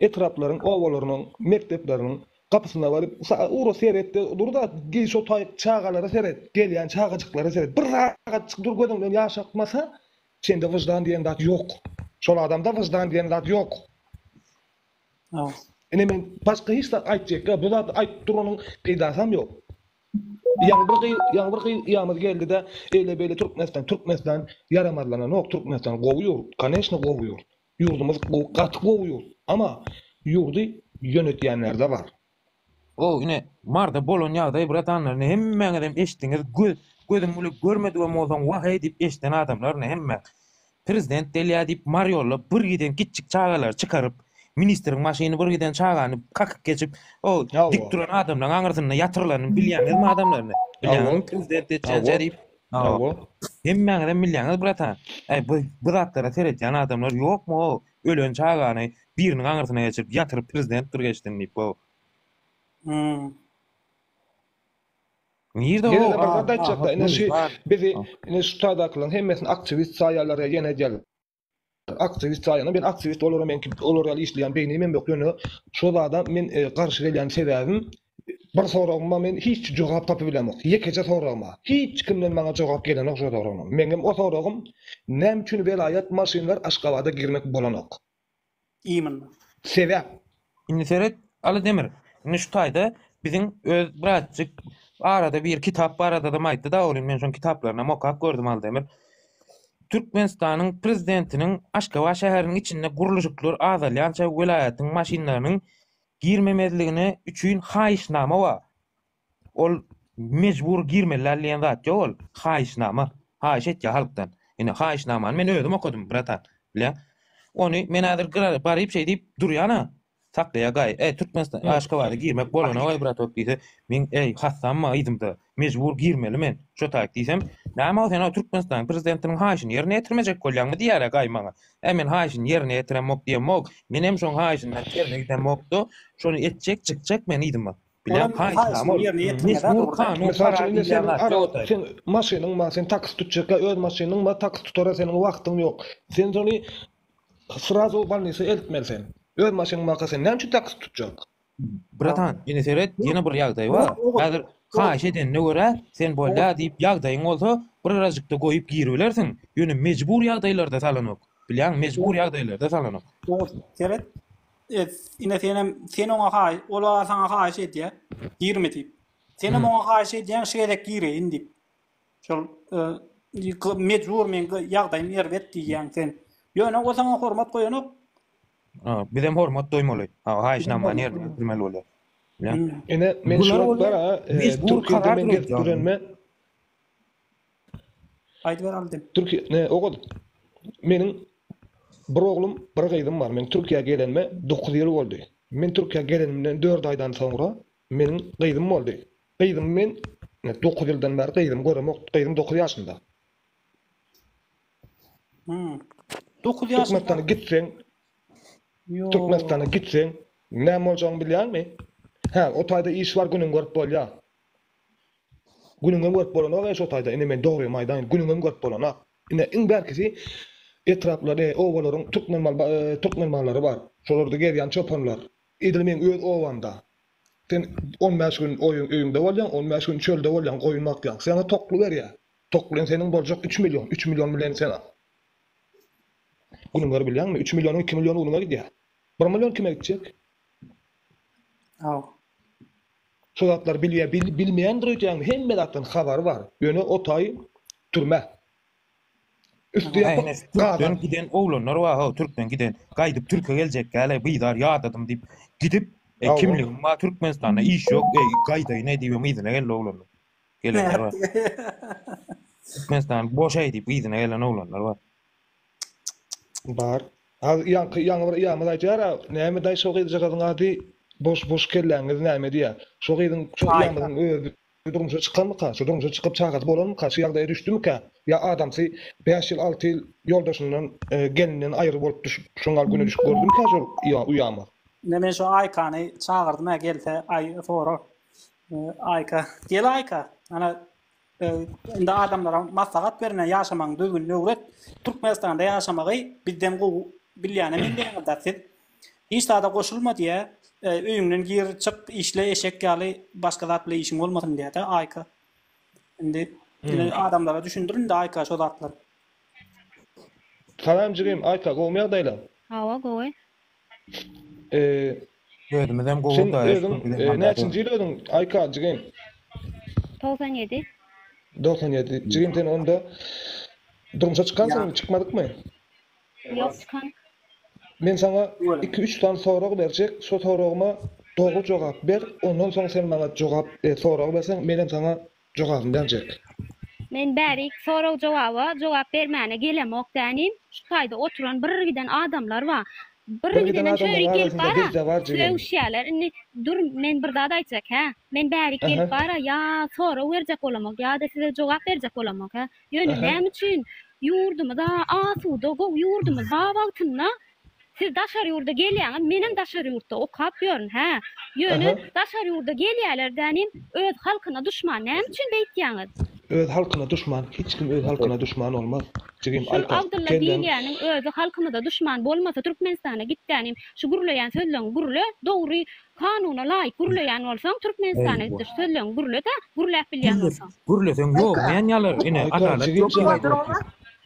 etraplaryň, obalarynyň mekdepleriniň gapysyna baryp, ugra seret-de dur-da, şo taý çagalara seret, gelýän çagajyklara seret. Bir sagatjyk dur, gözüň bilen ýaş akmasa, sende wyždan diýen zat ýok. Şol adamda wyždan diýen zat ýok. Ine men başga hiç zat aýtjak ýok. Bu zady aýdyp duranyň peýdasam ýok. Ýaňy bir gyz, ýaňy bir gyz ýamyz geldi-de, eýle beýle Türkmenistan, Türkmenistan ýaramazlananok, Türkmenistan gowy ýurt, koneşna gowy ýurt. Ýurdumyz gowy, gaty gowy ýurt. Ama ýurdy ýönetýänlerde bar. Gowy ine Marda bolan ýagdaýy bratanlaryny hemmäňizem eşitdiňiz göz gözüm bile görmedigem bolsaň wah heý diýip eşiden adamlaryny hemmäň. Prezident gelýä diýip Mar ýolda bir giden kiçjik çagalary çykaryp ministriň maşyny bir giden çagany kakyp geçip o dik duran adamlaryň aňyrsynda ýatyrylanyny bilýäňizmi adamlaryny bilýäňizmi prezident etjänçä diýip hemmäňizem bilýäňiz bratan. Aý bu zatlara seretýän adamlar ýokmy o Ölen çagany biriniň aňyrsyna geçirip ýatyryp prezidentdir geçsin diýip goý. Hum. Nirde Ýene-de o bir zat aýtjakda, ine şu bizi ine şu taýdakylaryň hemmesini aktiwist saýýarlar ýene edýärler. Aktiwist saýýan, men aktiwist olaram meňki olar ýaly işleýän beýnim hem ýok ýöne şo zada men garşy gelýän sebäbim Bir soragyma men hiç jogap tapybilemok. Ýekeje soragyma. Hiç kimden maňa jogap gelenok şo soragynam. Meňem o soragym näme üçin welaýat maşynlar Aşgabada girmek bolanok? Imnn. Sebäp. Indi seret Aly Demir. Indi şu taýda biziň öz birazjyk arada bir kitap baradadam aýtdyda Olin men şoň kitaplarynam okap gördüm Aly Demir. Türkmenistanyň prezidentiniň Aşgabat şäheriniň içinde gurluşyklar azalýança welaýatyň maşynlarynyň Girmemezligine üçin haýyşnama bar. Ol mejbur girmeli däl diýen zat ýok ol. Haýyşnama. Haýyş etýär halkdan. Ine, haýyşnamany men özüm okadym, bratan. Bilýäň? Ony men häzir gyra baryp şeý diýip durýan-a. Saklaýar gaýy. Äý, Türkmenistan, Aşgabada girmek bolana goý, bratok diýse, men, äý, hassammy yzymda? Mejbur girmeli men şo taýt diýsem, Näme o sen o Türkmenistanyň prezidentiniň haýyşyny ýerine ýetirmejek bolýaňmy diýýärä gaý maňa. Ä men haýyşyny ýerine ýetiremok diýemok, menem şoň haýyşyndan terine gidemok-da, şony etjek çykjak men yzyma. Bilen haýyşnama ol. Mejbur kanun karar diýilýän zat ýok o taýt. Seň maşynyň bar, sen taksi tutjakka öz maşynyň bar, taksi tutara seniň wagtyň ýok. Sen şony srazu w bolnisa eltmeli sen. Öz maşynyň barka sen näme üçin taksi tutjak? Bratan, ine seret, ýene bir ýagdaý bar. Häzir haýyş edenine görä, sen bolýa diýip ýagdaýyň bolsa, birazajykda goýup giribilersiň, ýöne mejbur ýagdaýlarda salanok. Bilýäňmi, mejbur ýagdaýlarda salanok. Oňa seret, ine senem, sen oňa haý, ol-a saňa haýyş edýä, girme diýip. Senem oňa haýyş edýäň, şu gezek gireýin diýip. Şol mejbur men ýagdaýym erbet diýýäň sen. Ýöne o saňa hormat goýanok. Bizem hormat doýmaly. Haýyşnama nirde ötürmeli bolýar. Ene men şu wagtlar mejbur karar berýän. Aýdyp ber aldy. Türkiýe ogul. Meniň bir oglum, bir gyzym bar. Men Türkiýä gelenime dokuz ýyl boldy. Men Türkiýä gelenimden dört aýdan soňra Meniň gyzym boldy. Gyzym men ine dokuz ýyldan bäri gyzym göremok. Gyzym dokuz ýaşynda. Hmm. Dokuz ýaşynda. Türkmenistana gitseň, Ýok. Türkmenistana gitseň, näme boljagyny bilýäňmi? Hä, o taýda iş bar, günüňi görüp bolýar. Günüňem görüp bolanok eý şo taýda, ine men dogrymy aýdaýyn, günüňem görüp bolanok. Ine iň bärkisi etraplaryň, obalaryň türkmen mal, e, türkmen mallary bar. Şolarda gezýän çopanlar. Edil meň öz obamda. Sen on bäş gün öýüňde bolýaň, on bäş gün çölde bolýaň, goýun bakýaň. Saňa tokly berýär. Toklyň seniň boljak üç million. Üç million bilen sen Günüň bar bilýäňmi? Üç millionyň iki milliony unuňa gidýär. Bir million kime gitjek? Ýok. Şu zatlary bilýär, bilmeýändir öýdýäňmi? Hemme zatdan habary bar. Ýöne o taý türme. Üsti ýapyk Ähne türkden gaban. giden oglanlar bar ha türkden giden gaýdyp türke geljekkäle bizar ýadadym diýip gidip e, Hawa. kimligim bar türkmenistanda iş ýok e, gaýdaýyn e, diýip öň yzyna geldi oglanlar gelenler bar türkmenistan boşaý diýip yzyna gelen oglanlar bar Bar. Ha ýaňky ýaňy bir ýamyz aýdýar ha, näme daýy şo gyzjagazyň ady boş boş kelläňiz näme diýýär. Şo gyzyň şo Aýka. ýamyzyň özi Şu durmuşa çykanmyka? Şu durmuşa çykyp çagasy bolanmyka? Şu ýagdaýa düşdümikä? Ýa adamsy bäş ýyl, alty ýyl ýoldaşyndan, gelninden aýry bolup düşüp, şuň gal güne düşüp gördümikä şol uýamaz? Ine men şu Aýkany çagyrdym-ä gelse aý sorak. Aýka, gel Aýka. Ana indi adamlara maslahat ber ine ýaşamagyň düzgünini öwret. Türkmenistanda ýaşamagy bizden gowy bilýänem endiňiz-de siz. Hiç zada goşulma diýä. Öýüňden gir, çyk, işle eşek ýaly başga zat bilen işiň bolmasyn diýädä Aýka. Indi ine adamlara düşündir indi Aýka şo zatlary. Salam jigim Aýka gowmy ýagdaýlaň? Hawa gowy. Eee. Özümizem gowy sen özüň näçinji ýyl özüň Aýka jigim? Togsan ýedi. Dogsan ýedi. Jigim sen onda durmuşa çykansyň indi çykmadykmy? Ýok çykan. Men saňa iki üç sany sorag berjek, şo soragyma dogry jogap ber, ondan soň sen maňa jogap e sorag berseň menem saňa jogabymy berjek. Men bärik sorag jogaba jogap bermäne gelemok dänim, şu taýda oturan bir giden adamlar bar, bir gidenem çörik gelip bara sögüşýäler, indi dur men bir zat aýtjak hä, men bärik gelip bara ýa sorag berjek bolamok ýa-da size jogap berjek bolamok hä, Ýöne näme üçin ýurdumyz asuda, gowy ýurdumyz ba wagtynda siz daşary ýurda gelýäňiz, menem daşary ýurtda okap ýörün hä. Ýöne daşary ýurda gelýäler dänim öz halkyna duşman näme üçin beýtýäňiz? Öz halkyna duşman hiç kim öz halkyna duşman bolmaz jigim Şul Alper Abdylla kelleň diýilýäniň özi halkymyza duşman bolmasa Türkmenistana git dänim şu gürleýän sözleň gürle dogry Kanuna laýyk gürleýän bolsaň Türkmenistana gitdir sözleň gürlede gürläp bilýän bolsaň. Gürleseň ýoglmaýan ýalar ine adalat ýok diýip aýdyp otyr.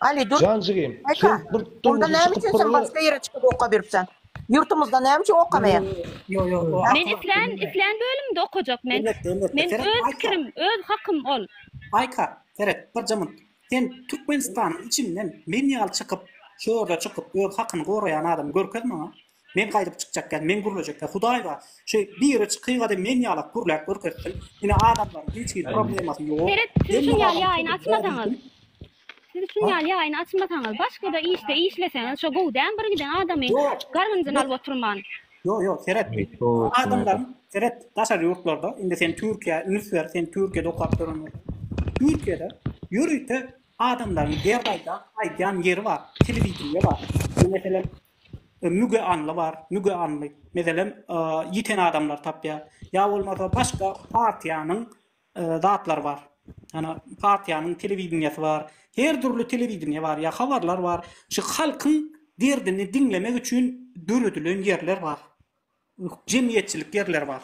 Ali dur. Janjygym sen bir durmuşy çykyp bir gyra. Başga ýere çykyp oka beripsen. Ýurtumyzda näme üçin okamaýan. Men islän islän bölümde okajak men. Men öz pikirim öz hakym ol. Aýka seret bir jynyň sen Türkmenistanyň içinden men ýaly çykyp şu ýerde çykyp öz hakyny goraýan adamy görkez maňa. Men gaýdyp çykjakka, men gürlejekke Hudaý bar. Şu biri çykyga-da men ýalak gürläp görkezsin. Ine, adamlaryň hiç hili problemasy ýok. Seret, siz şuny ýaly ýaýyny açmasaňyz, siz şuny ýaly ýaýyny açmasaňyz, başga-da işde işleseňiz, şo gowy däl, bir giden adamy gargynjyny alyp oturman. Ýok, ýok, seret, adamlaryň, seret, daşary ýurtlarda, indi sen Türkiýä üns ber, sen Türkiýede okap ýören bolsaň, Türkiýede ýörite adamlaryň derdi aýdan, aýdýan ýeri bar, telewideniýe bar. Meselem, Müge anly bar, müge anly. Meselem, ýiten adamlar tapýar. Ýa bolmasa başga partiýanyň zatlary bar. Ýa partiýanyň telewideniýesi bar. Her dürli telewideniýe bar, ýa habarlar bar. Şu halkyň derdini diňlemek üçin döredilen ýerler bar. Jemgyýetçilik ýerleri bar.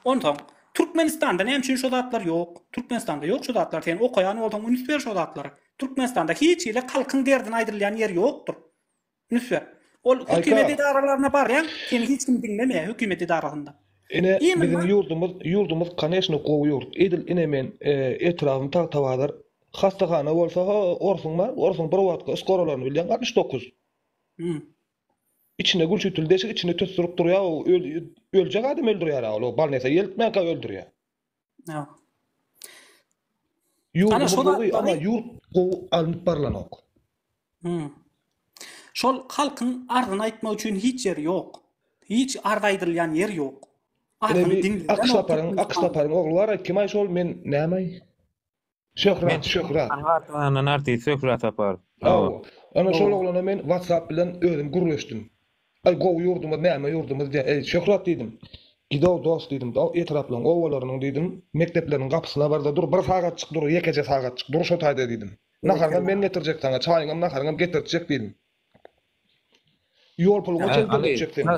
Onsoň, Türkmenistanda näme üçin şo zatlar ýok? Türkmenistanda ýok şo zatlar. Sen okaýan bolsaň, üns ber şo zatlara. Türkmenistanda hiç hili halkyň derdini aýdylýan ýer ýokdur. Nusret. Ol hökümet edaralaryna barýaň, seni hiç kim diňlemeýär hökümet edarasynda. Ine, biziň ýurdumyz, ýurdumyz koneşno gowy ýurt. Edil ine men etrabym Tagtabazar. Hassahana bolsa ho, orsuň bar, orsuň bir wagtky uskoralaryny bilýäň, altmyş dokuz. Hum. Içinde gülçütül deşik, içinde tüsdürip durýar, öljek adam öldürýär-ä ol, o balnesa eltmänkä öldürýär. Ýa. Ýurt Ana, şol gowy, amma atlary- ýurt gowy alnyp barlanok. Hmm. Şol halkyň arzyny aýtmak üçin hiç ýeri ýok. Hiç arz aýdylýan ýer ýok. Ine Arzyny bir diňlediler. Akyş laparyň, Akyş laparyň ogly bar-aý, kim-aý şol, men näme-aý? Şöhrat, Men Şöhrat. Anwar Tahandan artist Şöhrat Saparow. Hawa. Ana şol oglana men WhatsApp bilen özüm gürleşdim. Aý gowy ýurdumyz näme ýurdumyz diýýär. Eý Şöhrat diýdim. Gidow dost diýdim. Daw etraplaryň, obalarynyň diýdim, mekdepleriniň gapysyna barda dur, bir sagatjyk dur, ýekeje sagatjyk dur şo taýda diýdim. Naharyňam men getirjek saňa, çaýyňam, naharyňam getirtjek diýdim. Ýol puluňa çenli dönetjek seni.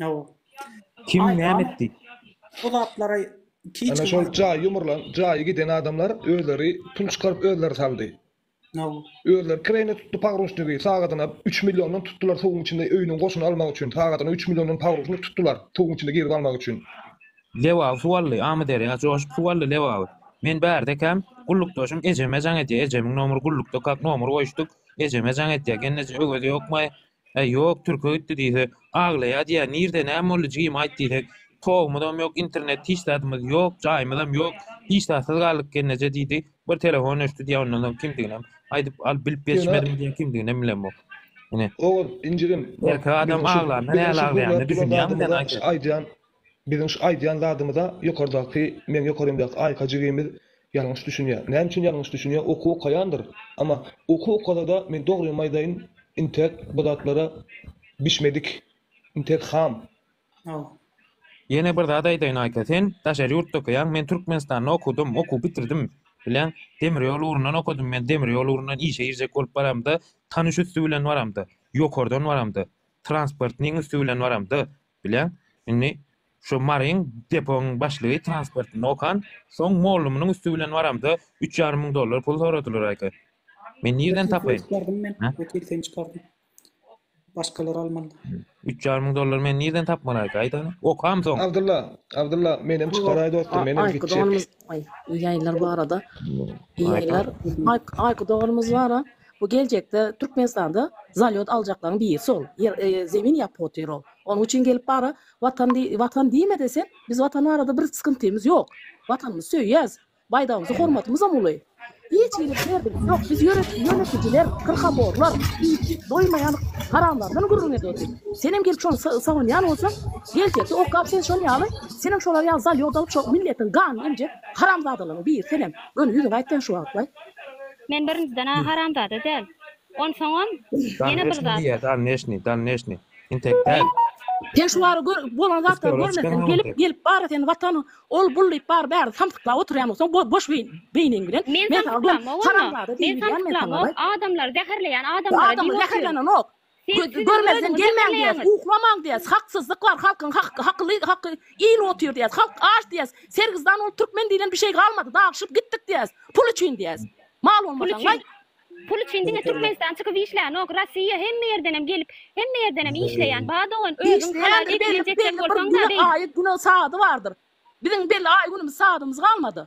Ýow. Kim näme etdi? Bu zatlara Ana şol jaýy ýumurlan, jaýy giden adamlar özleri pul çykaryp özleri saldy. Ýow. Özleri kireýine tutdy pogruşnigi, sagadyna üç milliondan tutdular suwuň içinde öýüniň goşuny almak üçin, sagadyna üç milliondan pogruşnik tutdular suwuň içinde girip almak üçin. Lebaby suw aldy, Amyderýa joşup suw aldy Lebaby. Men bärde ekäm, gullukdaşym ejeme jaň edýär, ejemiň nomry gullukda kak nomry goýuşdyk, ejeme jaň edýär, gelneje öwezi ýokmaý, Äý, ýok, türke gitdi diýse, aglaýar diýýä, nirde, näme boldy, jigim, aýt diýsek, togumyzam ýok, internet, hiç zadymyz ýok, jaýymyzam ýok, hiç zatsyz galdyk gelneje diýdi, bir telefon öçdi diýýä, ondan soň kimdiginem aýdyp, alyp bilip ýetişmedim diýýä, kimdiginem bilemok. Ine. Oguz, injigim, bak, erkek adam aglanda nähili aglaýanyny düşünýäňmi sen, aýt, aýdýan, Biziň şu aýdýan zadymyza ýokardaky meň ýokarymdaky Aýka jigimiz ýalňyş düşünýär. Näme üçin ýalňyş düşünýär? Okuw okaýandyr. Ama okuw okasada men dogrymy aýdaýyn intäk bu zatlara bişmedik. Intäk ham. Ýene bir zat aýdaýyn Aýka sen daşary ýurtda okaýaň men Türkmenistanda okadym okuw bitirdim bileň demir ýol ugrundan okadym men demir ýol ugrundan işe girjek bolup baramda tanyş üsti bilen baramda ýokardan baramda transportnyň üsti bilen baramda Bileň, indi şo Maryň deponyň başlygy transportynda okan, soň mollumynyň üsti bilen baramda, üç ýarym müň dollar pul soradylaryka. Men nirden tapaýyn? Wekil sen çykardyň. Başgalar almaly. Üç ýarym müň dollary men nirden tapmalyka, aýdaly? Okam soň. Abdylla, Abdylla, menem çykaraý dostum, menem gitjek. Aýky doganymyz bar-a. Aýky doganymyz bar-a. Bu geljekde Türkmenistanda zalýot aljaklaň biri sol ýer zemin ýap potyr ol. Onuň üçin gelip bara watan diý watan diýmede sen biz watan barada bir skyntymyz ýok. Watanymyzy söýýäs. Baýdagymyza hormatymyzam uly. Hiç hili derdimiz ýok. Biz ýörite ýönetijiler kyrkaborlar iýip doýmaýan haramlardan gürrüň edýäsik. Senem gelip şony sawanýan bolsaň geljekde okap sen şol ýaly senem şolar ýaly zalýot alyp şo milletiň ganyny emjek haramzadalaryň biri senem. Göni ýüzüňi aýt sen şu wagtlaý. Men birinjiden-ä haramzada däl. Onsoňam, ýene bir zat. Donneşni, donneşni, donneşni. Entek däl. Sen şu bary gör, bolan zatlary görmezden gelip, gelip bara seni watan, ol, bul diýip bary bäri samsyklap oturýanmyňsoň, boş beýniň bilen. Men samsyklamok onda. Men samsyklamok, adamlary zäherleýän adamlara diýip otyryn. Adamy zäherlenenok. Siz kinoda öňe getirmeýäňiz. Uklamaň diýýäs, haksyzlyk bar, halkyň haky, hakyly, haky, il otyr diýýäs, halk aç diýýäs, sergizdan bolup türkmen diýlen bir şeý galmady, dagyşyp gitdik diýýäs, pul üçin diýýäs. Mal bolmasaň waý. Pul üçin diňe türkmenistan çykyp işlänok, rossiýa hemme ýerdenem gelip, hemme ýerdenem işleýän, ba dogan özüň halal ekine jeçjek bolsaňda beýt. Aýy güne sady bardyr. Biziň belli aýy günümiz sadymyz galmady.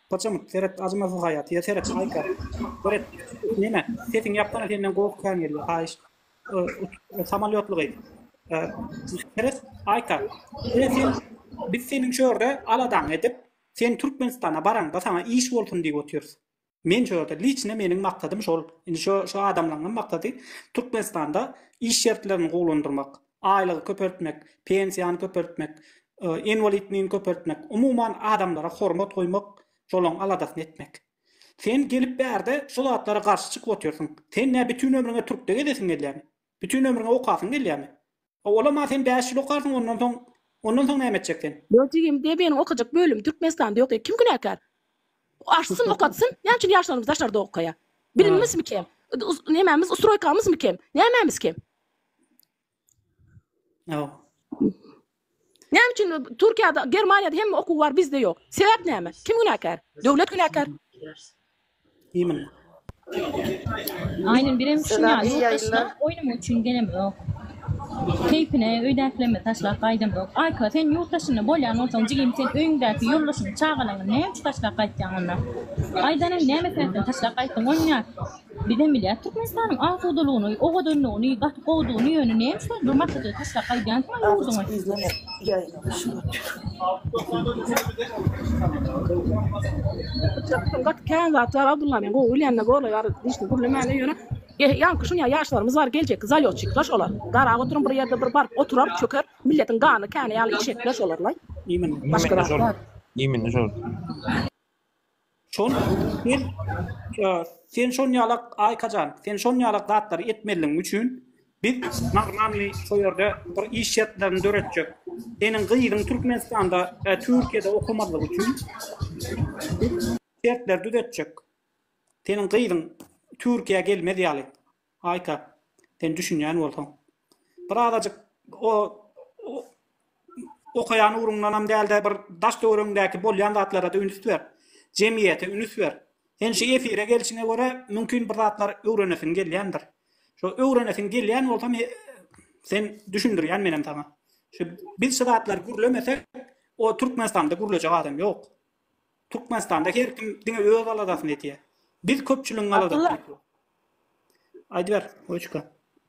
Paçamyk seret acmasyz haýat ýa seret haýka seret neme sesiň ýapsana senden gowy kän gelýär haýyş samalýotly gyz seret aýka biz seniň şu ýerde aladaň edip sen türkmenistana baraňda saňa iş bolsun diýip otyrys men şu ýerde liçne meniň maksadym şol indi şu şu adamlaňňam maksady türkmenistanda iş şertlerini gowulandyrmak aýlygy köpeltmek, pensiýany köpeltmek, inwalidnini köpeltmek, umuman adamlara hormat goýmak, şolaň aladasyny etmek. Sen gelip bärde şu zatlara garşy çykyp otyrsyň. Sen nä bütin ömrüňe türkde gezesiň gelýämi? Bütin ömrüňe okasyň gelýämi? A olam-a sen bäş ýyl okarsyň ondan soň, ondan soň näme etjek sen? Ýok jigim, DB-niň okajak bölümi Türkmenistanda ýok ýa kim günäkär? Açsyn okatsyn, näme üçin ýaşlarymyz daşarda okaýa? Bilimimizmi kem? Nemämiz ustroýkamyzmy kem? Nämämiz kem? Ýok. Näme üçin Türkiýede, Germaniýada hemme okuw bar, bizde ýok? Sebäp näme? Kim günäkär? Döwlet günäkär. Iýmini. Aýnem birem şuny Selam, ýurt yaylar. daşyna oýnamak üçin gelemok. Keýpine öýdäklerime taşlap gaýdamok. Aýka sen ýurt daşynda bolýan bolsaň jigim sen öýüňdäki ýoldaşyňy çagalaňy näme üçin taşlap gaýtýaň onda? Aýdanyň näme sebäpden taşlap gaýtdyň oýnýa. Bizem bilýäs Türkmenistanyň asudalygyny, owadanlygyny, gaty gowudygyny ýöne näme üçin bir maşgala taşlap gaýdýansyňa ýurduňy. Çakdan gaty kän zat bar Abdulla men gowy bilýänine borla ýar dişini gürlemäne ýöne ýaňky şunýa ýaşlarymyz bar geljekki zalýotçikler şolar garap oturyň bir ýerde bir baryp oturar çöker milletiň ganyny känä ýaly içjekler şolarlaý başga zat bar. Şon sen sen şon ýalak Aýkajan, sen şon ýalak zatlary etmeliň üçin biz Magmamy şu ýerde bir iş şertlerini döretjek. Seniň gyzyň Türkmenistanda, e, Türkiýede okamazlyk üçin biz şertleri düzetjek. Seniň gyzyň Türkiýä gelmez ýaly. Aýka, sen düşünýän bolsaň. Bir azajyk o okaýan ugruňdanam däl-de, bir daş-töweregiňdäki bolýan zatlara-da ünüs ber. Jemgyýete ünüs ber. Sen şu efire gelşiňe görä, mümkin bir zatlar öwrenesiň gelýändir. Şo öwrenesiň gelýän bolsa, sen düşündirýän menem saňa. Şu biz şu zatlary gürlemesek, o Türkmenistanda gürlejek adam ýok. Türkmenistanda her kim diňe öz aladasyny etýär. Biz köpçüligiň aladasyny etýäris. Aýdyp ber, Oçka.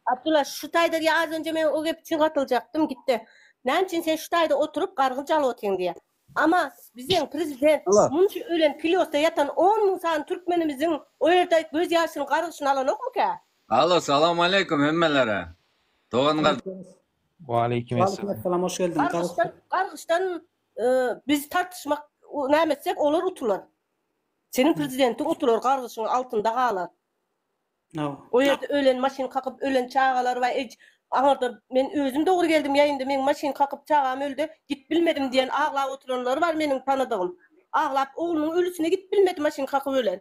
Abdullah, şu taýda diýe az önje men o gep üçin gatyljakdym, gitdi. Näme üçin sen şu taýda oturyp gargynç alyp otyň diýe. Ama biziň prezident munça ölen pilýosda ýatan on müň sany türkmenimiziň o ýerde göz ýaşyny gargyşyny alanokmyka? Alo, salam aleýkum hemmelere. Dogan gardaş. Waleýkim esselam. Waleýkim esselam, hoş geldiň. Gargyşdan, gargyşdan Biz tartyşmak näme etsek olar utular. Seniň prezidentiň utular gargyşyň altynda galar. O ýerde ölen maşyn kakyp ölen çagalar bar. Eý aňarda men özüm dogry geldim ýaýynda meň maşyn kakyp çagam öldi gidip bilmedim diýen aglap oturanlar bar meniň tanadygym. Aglap oglunyň ölüsine gidip bilmedi maşyn kakyp ölen.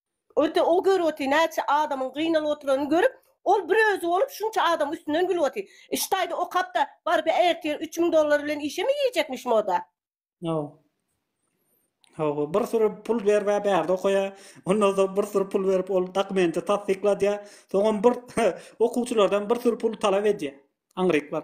Öte o gör oty näçe adamyň gynalyp oturanyny görüp ol bir özi bolup şunça adamyň üstünden gülüp oty. Ştaýda okapda baryp ertir üç müň dollar bilen işemi iýjekmiş moda. Hawa. Hawa bir süri pul berip a bärde okaýa. Ondan soň bir süri pul berip ol dokumenti tassykladýa. Soňam bir okuwçylardan bir süri pul talap edýä. Aňryk bar.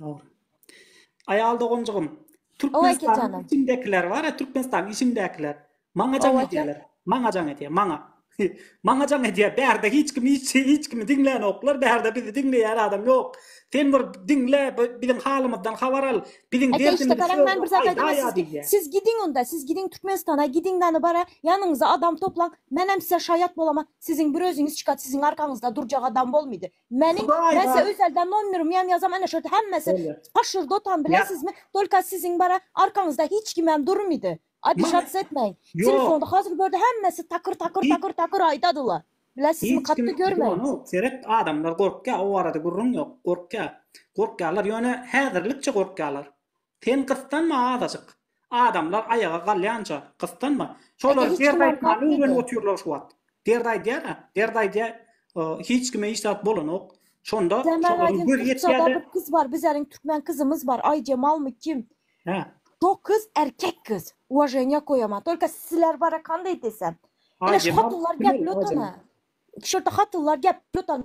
Dogry. Aýal doganjygym, Türkmenistanyň içindekiler bar-a, Türkmenistanyň içindekiler. Maňa jaň edýärler. Maňa jaň edýär, maňa. Maňa jaň edýär. Bärde hiç kim hiç şey, hiç kimi diňlänoklar. Bärde bizi diňleýän adam ýok. Sen bir diňle, biziň halymyzdan habar al. Biziň derdimizi çöz. Siz gidiň onda, siz gidiň Türkmenistana, gidiň näme bar-a, ýanyňyza adam toplaň. Menem size şaýat bolam-a. Siziň bir özüňiz çykat, siziň arkaňyzda durjak adam bolmady. Meniň Hudaý men size bar. özelden nomerimi hem ýazam ana şurada hemmesi Bolýar. paşur dotan Ýaz. bilesizmi tolka siziň bara arkaňyzda hiç kim hem durmydy obişats etmäň Ýok. telefonda hazir görde hemmesi takyr takyr Hiç- takyr takyr aýdadylar bilesizmi Hiç kim katda görmedim Ýonok, seret adamlar gorkýar o barada gürrüň ýok gorkýar gorkýarlar ýöne häzirlikçe gorkýarlar Sen gyssanma azajyk. Adamlar aýaga galýanja gyssanma. Şolar dert aýtmany öwrenip otyrlar şu wagt. Dert aýdýar-a, dert aýdýar. Hiç kime hiç zat bolanok. Şonda şolaryň gözi ýetýär-de. Bir gyz bar, bizäniň türkmen gyzymyz bar, Aýjemalmy kim? Hä. Şo gyz erkek gyz. Uwaženiýa goýaman. Tolko sizler bara kanda edesem. Ine şu hatynlar gepli otan-a. Şurda hatynlar gepli otan.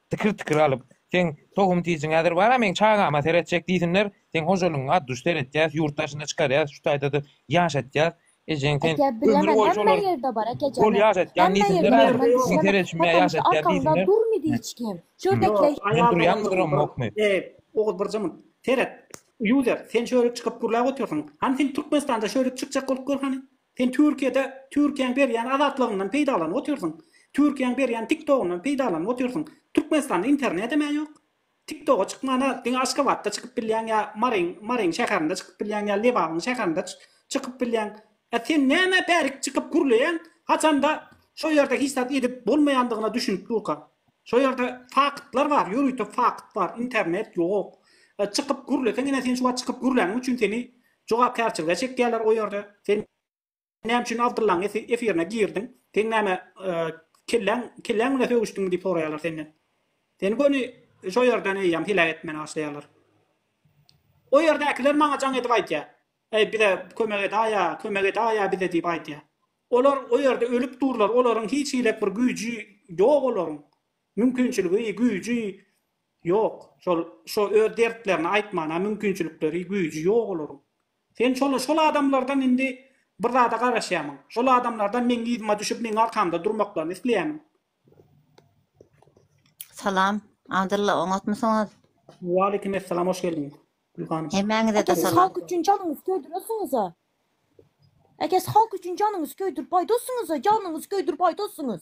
Tikir-tikir alyp, Seň tohum-tijiň häzir bar-a, meň çagama seretjek diýsinler. Seň hojalygyňy ad-duş seretýäs, ýurt daşyna çykarýas, şu taýda-da ýaşatýas. Ejeň sen ömür boýy şolar bol ýaşatýan diýsinler häzir. Seň seredişime ýaşatýar diýsinler. Men durýanmydyrmokmy? Eý, Oguz bir jymy. Seret, user, sen şöhret çykyp gürläp otyrsyň. Hany sen Türkmenistanda şöhret çykjak bolup gör hany. Sen Türkiýede Türkiýäň berýän azatlygyndan peýdalanyp otyrsyň. Türkiýäň berýän tiktogyndan peýdalanyp otyrsyň. Türkmenistanda internetem-ä ýok. Tiktoga çykman-a diňe Aşgabatda çykyp bilýäň ýa Maryň Maryň şäherinde çykyp bilýäň ýa Lebabyň şäherinde çykyp bilýäň. Ä sen nämä bärik çykyp gürleýäň? Haçanda şo ýerde hiç zat edip bolmaýandygyna düşünip durka. Şo ýerde faktlar bar, ýörite fakt bar, internet ýok. Çykyp gürleseň ine sen şu wagt çykyp gürläniň üçin seni Jogapkärçilige çekýärler o ýerde. Sen näme üçin Abdyllaň efirine girdiň? Seň näme kelläň kelläň bilen sögüşdiňmi diýip soraýarlar senden. Seni göni şo ýerden eýýäm heläk etmäne başlaýarlar. O ýerdäkiler maňa jaň edip aýdýar. Eý bize kömek edaýa, kömek edaýa bize diýip aýdýar. Olar o ýerde ölüp durlar, olaryň hiç hiläk bir güýji ýok olaryň. Mümkinçiligi, güýji Ýok, şol, şo öz dertlerini aýtmana mümkinçilikleri, güýji ýok olaryň. Sen şol, şol adamlardan indi bir zada garaşýamyň. Şol adamlardan meň yzyma düşüp meň arkamda durmaklaryny isleýämiň. Salam, Abdylla, oňatmysyňyz? Waleýkim essalam, hoş geldiň, Gül hanym. Hemmäňize-de Ata siz salam. halk üçin janyňyzy köýdüresiňiz-a. Eke siz halk üçin janyňyzy köýdürip aýdassyňyz-a, janyňyzy köýdürip aýdassyňyz.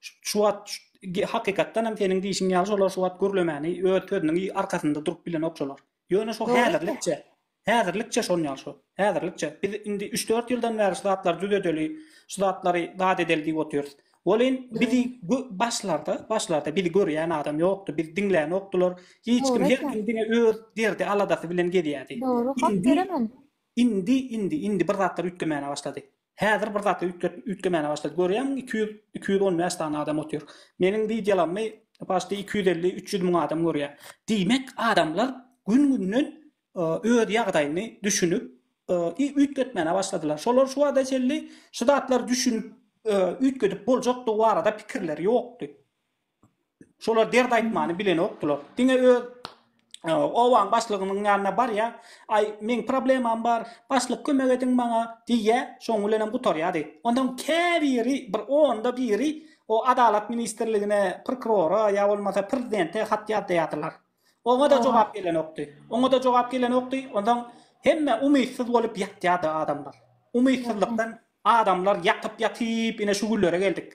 Şu wagt hakykatdan hem seniň diýişiň ýaly şolar şu wagt gürlemäni öz sözüniň arkasynda durup bilenok şolar. Ýöne şo häzirlikçe, häzirlikçe şon ýaly şo, häzirlikçe. Biz indi üç-dört ýyldan bäri şu zatlary düzedeli, şu zatlary zat edeli diýip otyrys. Welin bizi başlarda, başlarda bizi görýän adam ýokdy, bizi diňlänokdylar. Hiç kim her kim diňe öz derdi, aladasy bilen gezýärdi. Dogry, hak beremen. Indi, indi, indi bir zatlar üýtgemäne başlady. Häzir bir zat üýtgetip üýtgemäne başlady. Görýäňmi iki ýüz iki ýüz on bäş sany adam otyr. Meniň wideolarymy paçti iki ýüz elli üç ýüz müň adam görýär. Diýmek adamlar gün günden öz ýagdaýyny düşünip i üýtgetmäne başladylar. Şolar şu wagta çenli şu zatlar düşünip üýtgedip boljakdygy barada pikirleri ýokdy. Şolar dert aýtmany bilenokdylar. Diňe öz obaň başlygynyň ýanyna barýar, Aý, meň problemam bar, başlyk kömek ediň maňa diýýär, şoň bilenem gutarýardy. Onsoň käbiri, bir onda biri o Adalat ministrligine, prokurora ýa bolmasa prezidente hat ýazdaýardylar. Oňa-da jogap gelenokdy. Oňa-da jogap gelenokdy. Onsoň hemme umytsyz bolup ýatýardy adamlar. Umytsyzlykdan adamlar ýatyp-ýatyp ine şu günlere geldik.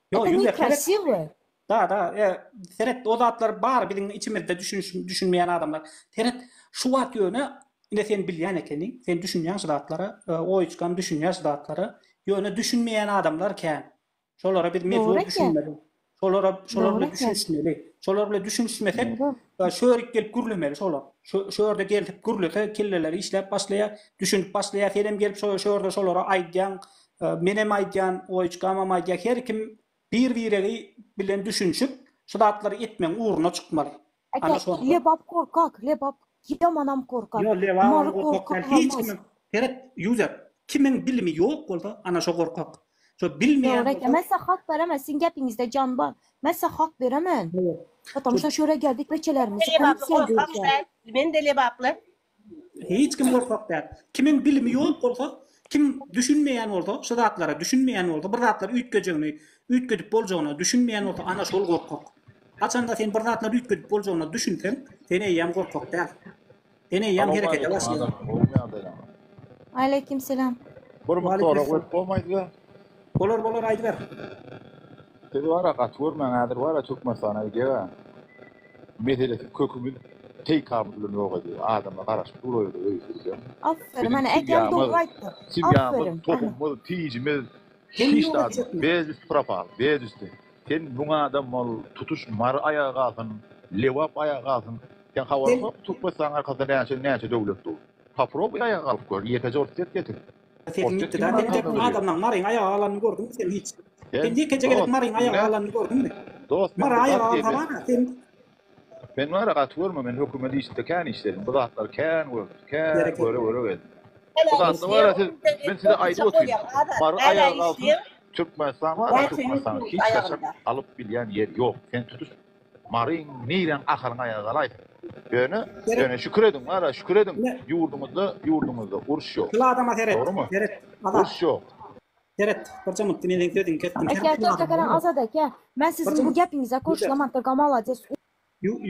Ýok, ýüz ýa seret. Da, da, e, seret, o zatlar bar biziň içimizde düşüniş, düşünmeýän adamlar. Seret, şu wagt ýöne ine sen bilýän ekeniň, sen düşünýän şu zatlara, e, oýuçkam düşünýär şu zatlara. Ýöne düşünmeýän adamlar kän. Şolara biz mejbur düşünmeli. Şolara şolar bilen düşünişmeli. Şolar bilen düşünişmesek, e, şörik gelip gürlemeli şolar. Şu şörde gelip gürlese, kelleleri işläp başlaýar, düşünip başlaýar. Sen hem gelip şo şörde şolara aýdýaň, Menem aýdýan, Oýuçkamam aýdýar, her kim bir-biregi bilen düşünşip, şu zatlary etmegiň ugruna çykmaly. Eke, Lebap korkak, Lebap ýamanam korkak. Ýok, Lebabam korkak däl, hiç kimiň, seret, Ýuzer, kimiň bilimi ýok bolsa, ana şo korkak. Şo bilmeýän bolsa. Ýok, Eke, men size hak beremen, siziň gepiňizde jan bar. Men size hak beremen. Hawa. Potamşa şöyle geldik beçelerimizi hem söýdürýäs. Men-de Lebaply, Hiç kim gorkak däl. Kimiň bilimi ýok bolsa, kim düşünmeýän bolsa, şu zatlara düşünmeýän bolsa, bir zatlar üýtgejegini, üýtgedip boljagyna düşünmeýän bolsa, ana şol gorkak. Haçanda sen bir zatlar üýtgedip boljagyna düşünseň, sen eýýäm gorkak däl. Sen eýýäm herekete başlaýaň. Aleykimselam. Bir mukdara goýup bolmaýdy. Bolar bolar aýdyber. Siz bara gaty görmäň häzir bara türkmenistana gidýäga meselesi kökümiz teýkamyz bilen ýok edýär adamlar garaşyp dur o ýerde öýsüz gidýär biziň simýamyz simýamyz tohumyz tijimiz hiç zadymyz bez üsti propal bez üsti sen müň adam bol tutuş mary aýaga galsyn lebap aýaga galsyn sen habaryň ýokmy türkmenistanyň arkasynda näçe näçe döwlet dur poprobuý aýaga galyp gör ýekeje orset getir. Sesiň gitdi da sen dek adamlaň maryň aýaga galanyny gördüňmi sen hiç? Sen ýekeje gezek maryň aýaga galanyny gördüňmi? Dost mara aýaga galhana sen. Men mara gaty görme men hökümet işinde kän işledim bu zatlar kän gördüm kän göre göre geldim. Bu zatlar mara siz men size aýdyp otyň mary aýaga galsyn Türkmenistan mara Türkmenistan hiç haçan alyp bilýän ýeri ýok sen tutuş Mary nireň ahyryň aýagy galaýsyn. Ýöne ýöne şükür ediň wara şükür ediň ýurduňyzda ýurduňyzda uruş ýok. Şul adama seret. Dogrymy? Seret. Azat. Uruş ýok. Seret. Birje mutdy meniň sözümi kesdim. Eke eke eke seren azat eke men sizin bu gepiňize goşulamantyrga malades.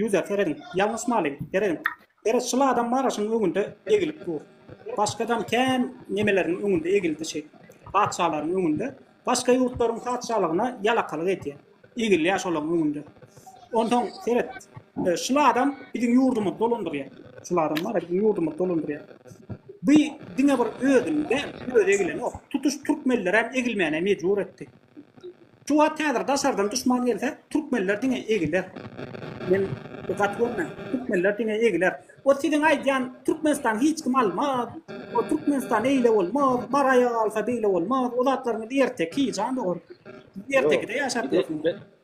User serediň. Ýalňyşmalyň. Serediň. Gara çyl adam Maraşyň öňünde egilip dur. Başgadam kän nemeleriň öňünde egildi şeý. Patyşalaryň öňünde. Başga ýurtlaryň patyşalygyna ýalakalyk edýä. Egilýä şolaň öňünde. Onsoň seret. Çyl adam biziň ýurdumyzy dolandyrýa. Çyl adam bar-a biziň ýurdumyzy dolandyrýa. Bu diňe bir özüni däl, özi egilenok. Tutuş türkmenlerem egilmäne mejbur etdi. Şu wagt häzir daşardan duşman gelse türkmenler diňe egiler. Men bu gaty görme. Türkmenler diňe egiler. O siziň aýdýan Türkmenistan hiç kim almaz. O Türkmenistan eýle bolmaz. Bar aýaga alsa beýle bolmaz. O zatlaryňyz erteki jan dogar. Ertekide ýaşap ýörsiňiz.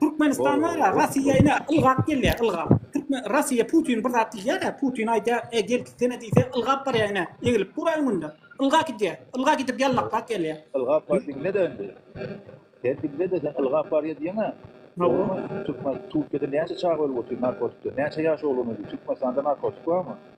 Türkmenistan bar-a, Rossiýa ine, ylgap gelýär, ylgap. Türkmen, Rossiýa Putin bir zat diýýär-ä, Putin aýdýar, e, gel gitsene diýse, ylgap barýar ine, eglip dur-a öňünde. Ylga gidýär. Ylga gidip ýalmaklap gelýär. Ylgap bar diňle-de indi. Sen diňle-de, sen ylgap barýar diýeň-ä. Dogrumy? Türkmen, Türkiýede näçe çaga ölüp otyr narkotikden? Näçe ýaş oglan öldi? Türkmenistanda narkotik barmy?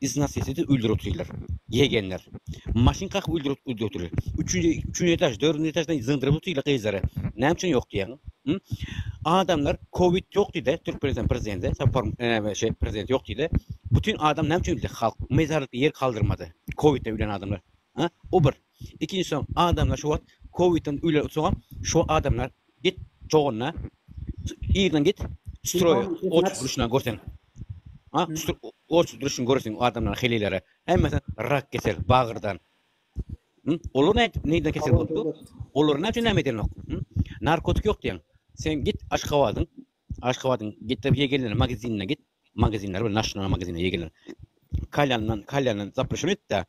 Iz nas etsede öldürip otyrylar. Ýegenler. Maşyn kakyp öldürip öldürip otyrylar. Üçünji üçünji etaž dördünji etaždan zyňdyryp otyrylar gyzlary. Näme üçin ýok diýýäň? Hü? Adamlar kowid ýok diýdi Türkmenistan prezidenti Sapar näme şeý prezident ýok diýdi. Bütin adam näme üçin bildi halk mezarlykda ýer kaldyrmady. Kowidden ölen adamlar. Hä? O bir. Ikinjiden adamlar şu wagt kowidden öýlerde otursaňam şu adamlar git çogunda irden git stroýa oç duruşuna görseň. Ha, oç duruşun görseň o adamlar heleýlere. Hemmesi rak kesel, bagyrdan. Olar ne neyden kesel bolupdy? Olar ne üçin näme edenok? Narkotik yok diýen. Sen git Aşgabadyň Aşgabadyň gitde ýegenler magazinine git, magazinler we naşyna magazine ýegenler. Kalýandan, kalýandan zapruşin etdä,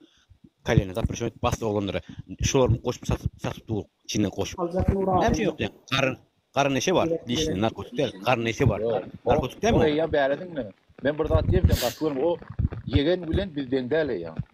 kalýandan zapruşin et, bassyr oglanlara şolaryň goşup satyp, satyp dur, içine goşup. Näme üçin ýok diýen, garyn, garyn neşe bar, dişinde narkotik däl, garyn neşe bar, narkotik dälmi? Ýa bäri diňle, men bir zat diýerin sen gaty görme, o ýegen bilen biz deň däl eýýäm.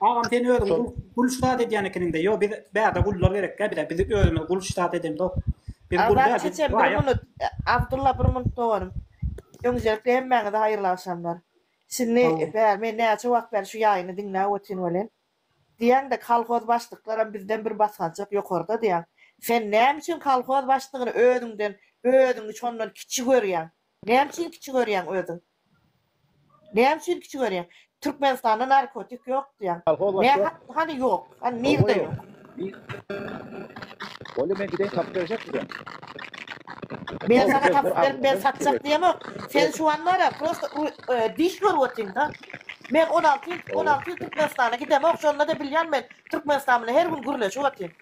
Agam sen özüň Şol gul ştat edýän ekeniňdä ýok biz bärde gullar gerekkä bize biz özümiz gul ştat edemzok biz gul Azat däl biz çeçem bir raýat. munut Abdulla bir munut doganym. Önjelikle hemmäňize haýyrly agşamlar. Şindi Sag boluň. bäri men näçe wagt bäri şu ýaýyny diňläp otyryn welin. Diýýäň de kolhoz başlyklaram bizden bir basgançak ýokarda diýýäň. Sen näme üçin kolhoz başlygyny özüňden özüňi şondan kiçi görýäň? Näme üçin kiçi görýäň özüň? Näme üçin kiçi görýäň? Türkmenistanda narkotik ýok diýýäň. Kolhoz Nä başda. ha- hany ýok? Hany nirde ýok? Bolýa men gideýin tapyp berjek size. Men Ol sana bir- tapyp bir berip men alnyndan satjak çekip- diýemok. Sen şu an bar ya prosta ru- e, diş görüp otyň da. Men 16 ýyl 16 ýyl Türkmenistana gidemok. Şonda da bilýän men Türkmenistan bilen her gün gürleşip otyň.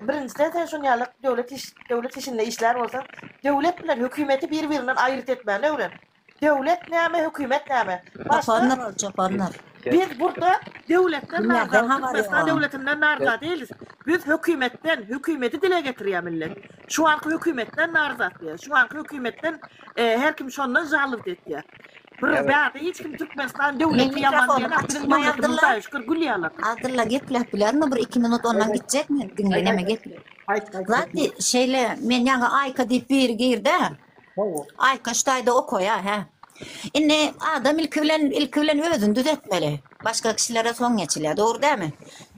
Birinjiden, sen şuny ýaly döwlet iş, döwlet işinde işlär bolsaň, döwlet bilen hökümeti bir-birinden aýryt etmäni öwren. Döwlet näme, hökümet näme? Çopanlar ol, çopanlar. Biz burda döwletden narda, Türkmenistan döwletinden narda dälis. Biz hökümetden, hökümeti dile getirýär millet. Şu anky hökümetden narda diýýär. Şu anky hökümetden her kim şondan žalowt etýär. Bro Evet. bäde hiç kim Türkmenistan döwleti Mehmet ýaman Rasul, diýen açyk biziň döwletimiz maýadylar. daýy şükür gülýärler. Adylla gepläp bilermi bir iki minut ondan gitjek mi? Diňle näme gepli. Aýt, aýt. Zati şeýle men ýaňa Aýka diýip biri girdi. Hawa. Aýka şu taýda okaýa hä. Indi adam ilki bilen ilki bilen özüni düzetmeli. Başga kişilere soň geçilýär, dogry dämi?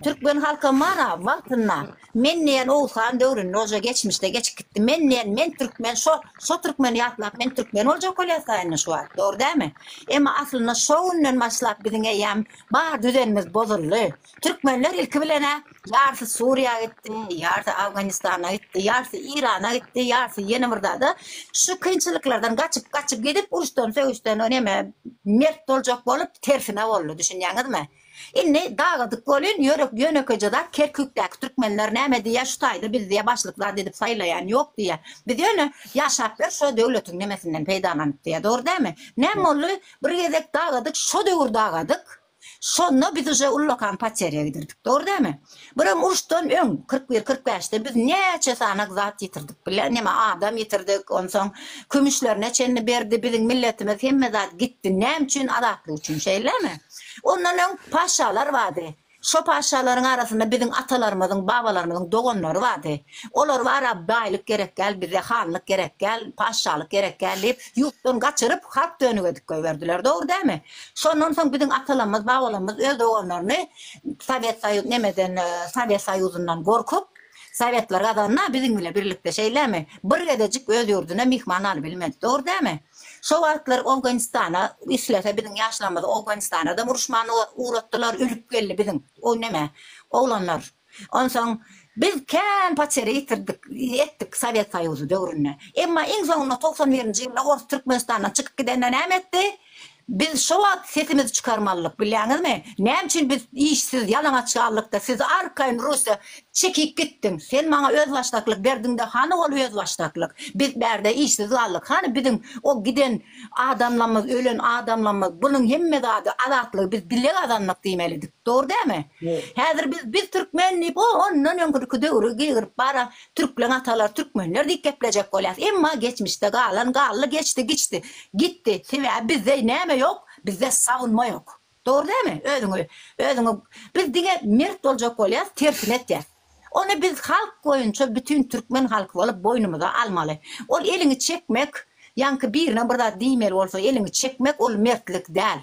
Türkmen halkam bar ha wagtynda Men diýen Oguz han döwründe oja geçmişde geçip gitdi. Men diýen men türkmen şo şo türkmeni ýatlap men türkmen boljak bolýasy indi şu wagt. Dogry dämi? Emma aslynda şo günden başlap biziň eýýäm bar düzenimiz bozuldy. Türkmenler ilki bilenä ýarsy Suriýa gitdi, ýarsy Afganistana gitdi, ýarsy Irana gitdi, ýarsy ýene bir zada. Şu kynçylyklardan gaçyp gaçyp gidip uruşdan sögüşden neme mert boljak bolup tersine boldy. Düşünýäňizmi? Indi dagadyk bolyn ýörek ýönekeje zat Kerkükdäki türkmenler näme diýýä şu taýda biz diýýä başlyk zat edip saýlaýan ýok diýýä biz ýöne ýaşap ber şo döwletiň nemesinden peýdalanyp diýýä dogry dämi näme boldy bir gezek dagadyk şo döwür dagadyk şonda biz uje ullakan poterýa gidirdik dogry dämi Bir hem uruşdan öň, kyrk bir, kyrk bäşde biz näçe sanaň zat ýitirdik bile, näme adam ýitirdik, onsoň kümüşlerine çenli berdi, biziň milletimiz hemme zat gitdi, näme üçin, azatlyk üçin, şeýlemi? Ondan öň paşşalar bardy, şo paşşalaryň arasynda biziň atalarymyzyň, babalarymyzyň doganlary bardy, olar bara baýlyk gerek däl bize, hanlyk gerek däl, paşşalyk gerek däl diýip, ýurtdan gaçyryp, halk dönügedip goýberdiler, dogry dälmi? Şondan soň biziň atalamyz, babalamyz öz doganlaryny, Sowet Soýuz nemeden Sowet Soýuzyndan gorkup Sowetler gazanna biziň bile birlikde şeýlemi bir gezejik öz ýurduna myhman aly bilmedi dogry dämi şo wagtlar Owganistana islese biziň ýaşlarymyzy Owgonistanadam uruşman ugratdylar ölüp geldi biziň o neme oglanlar onsoň biz kän potere ýetirdik etdik Sowet Soýuzy döwründe emma iň soňunda togsan birinji ýylda ors Türkmenistandan çykyp gidende näme etdi Biz şo wagt sesimizi çykarmalydyk, bilýäňizmi? Näme üçin biz işsiz, ýalaňaç galdykda, siz arkaýyn Russiýa çekip gitdiň? Sen maňa özbaşdaklyk berdiň-de, hany ol özbaşdaklyk? Biz bärde işsiz galdyk, hany biziň o giden adamlamyz, ölen adamlamyz? Bunuň hemme zady, azatlygy biz bile gazandyk diýmelidik. Dogry dälmi? Häzir biz, biz türkmen diýip, o ondan öňkürki döwri gygryp bara, Türkleň atalary türkmenler diýip geplejek bolýas, emma geçmişde galan galdy geçdi giçdi, gitdi, sebäbi bizde näme ýok, bizde sagynma ýok. Dogry dälmi? Özüňi, özüňi biz diňe mert boljak bolýas, tersini etýäs. Ony biz halk boýunça bütin türkmen halky bolup boýnumyza almaly. Ol eliňi çekmek, ýaňky birine bir zat diýmeli bolsa eliňi çekmek ol mertlik däl.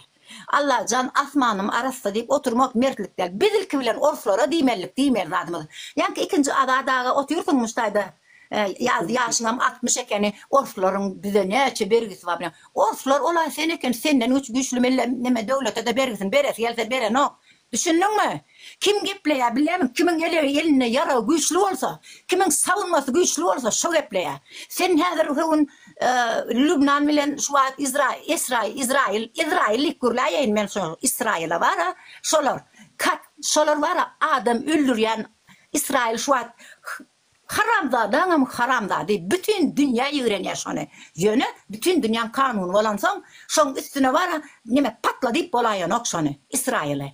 Allajan asmanym arassa diýip oturmak mertlik däl. Biz ilki bilen orslara diýmelilik diýmeýän zadymyz. Ýaňky ikinji Azat aga otyrsyňmyş taýda ýazdy ýaşyňam altmyş ekeni orslaryň bize näçe bergisi bar bilýäň. Orslar olaý sen eken senden güçlü mille neme döwlete-de bergisini beresi gelse berenok. Düşündiňmi? Kim gepleýär, bilemik, kimiň elegi, elinde ýaragy güýçli bolsa, kimiň sabynmasy güýçli bolsa, şo gepleýär. Sen häzir şu gün Lübnan bilen şu wagt Izrail, Esrail, Izrail, Izrail diýip gürläýeýin men şo Israila bar-a, şolar, kat, şolar bar-a, adam öldürýän Israil şu wagt Haramzadaňam haramzady bütin dünýä ýigrenýä şony ýöne bütin dünýäň kanuny bolansoň şoň üstüne bara neme patla diýip bolaýanok şony Israýyly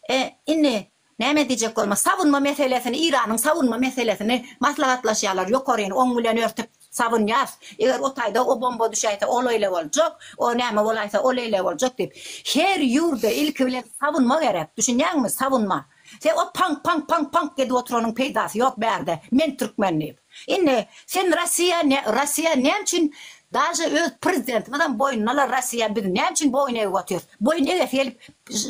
e indi näme diýjek bolma sawunma meselesini Iranyň sawunma meselesini maslahatlaşýalar ýokaryny oň bilen örtüp sawunýas eger o taýda o bomba düşäýse o leýle boljak o näme bolaýsa o leýle boljak diýip her ýurda ilki bilen sawunma gerek düşünýäňmi sawunma. Sen o pank pank pank pank edip oturanyň peýdasy ýok bärde men türkmen diýip. Indi sen Rossiýa ne Rossiýa näme üçin daže öz prezidentimizem boýnunala Rossiýa biz näme üçin boýun egip otyrys. Boýun egesi gelip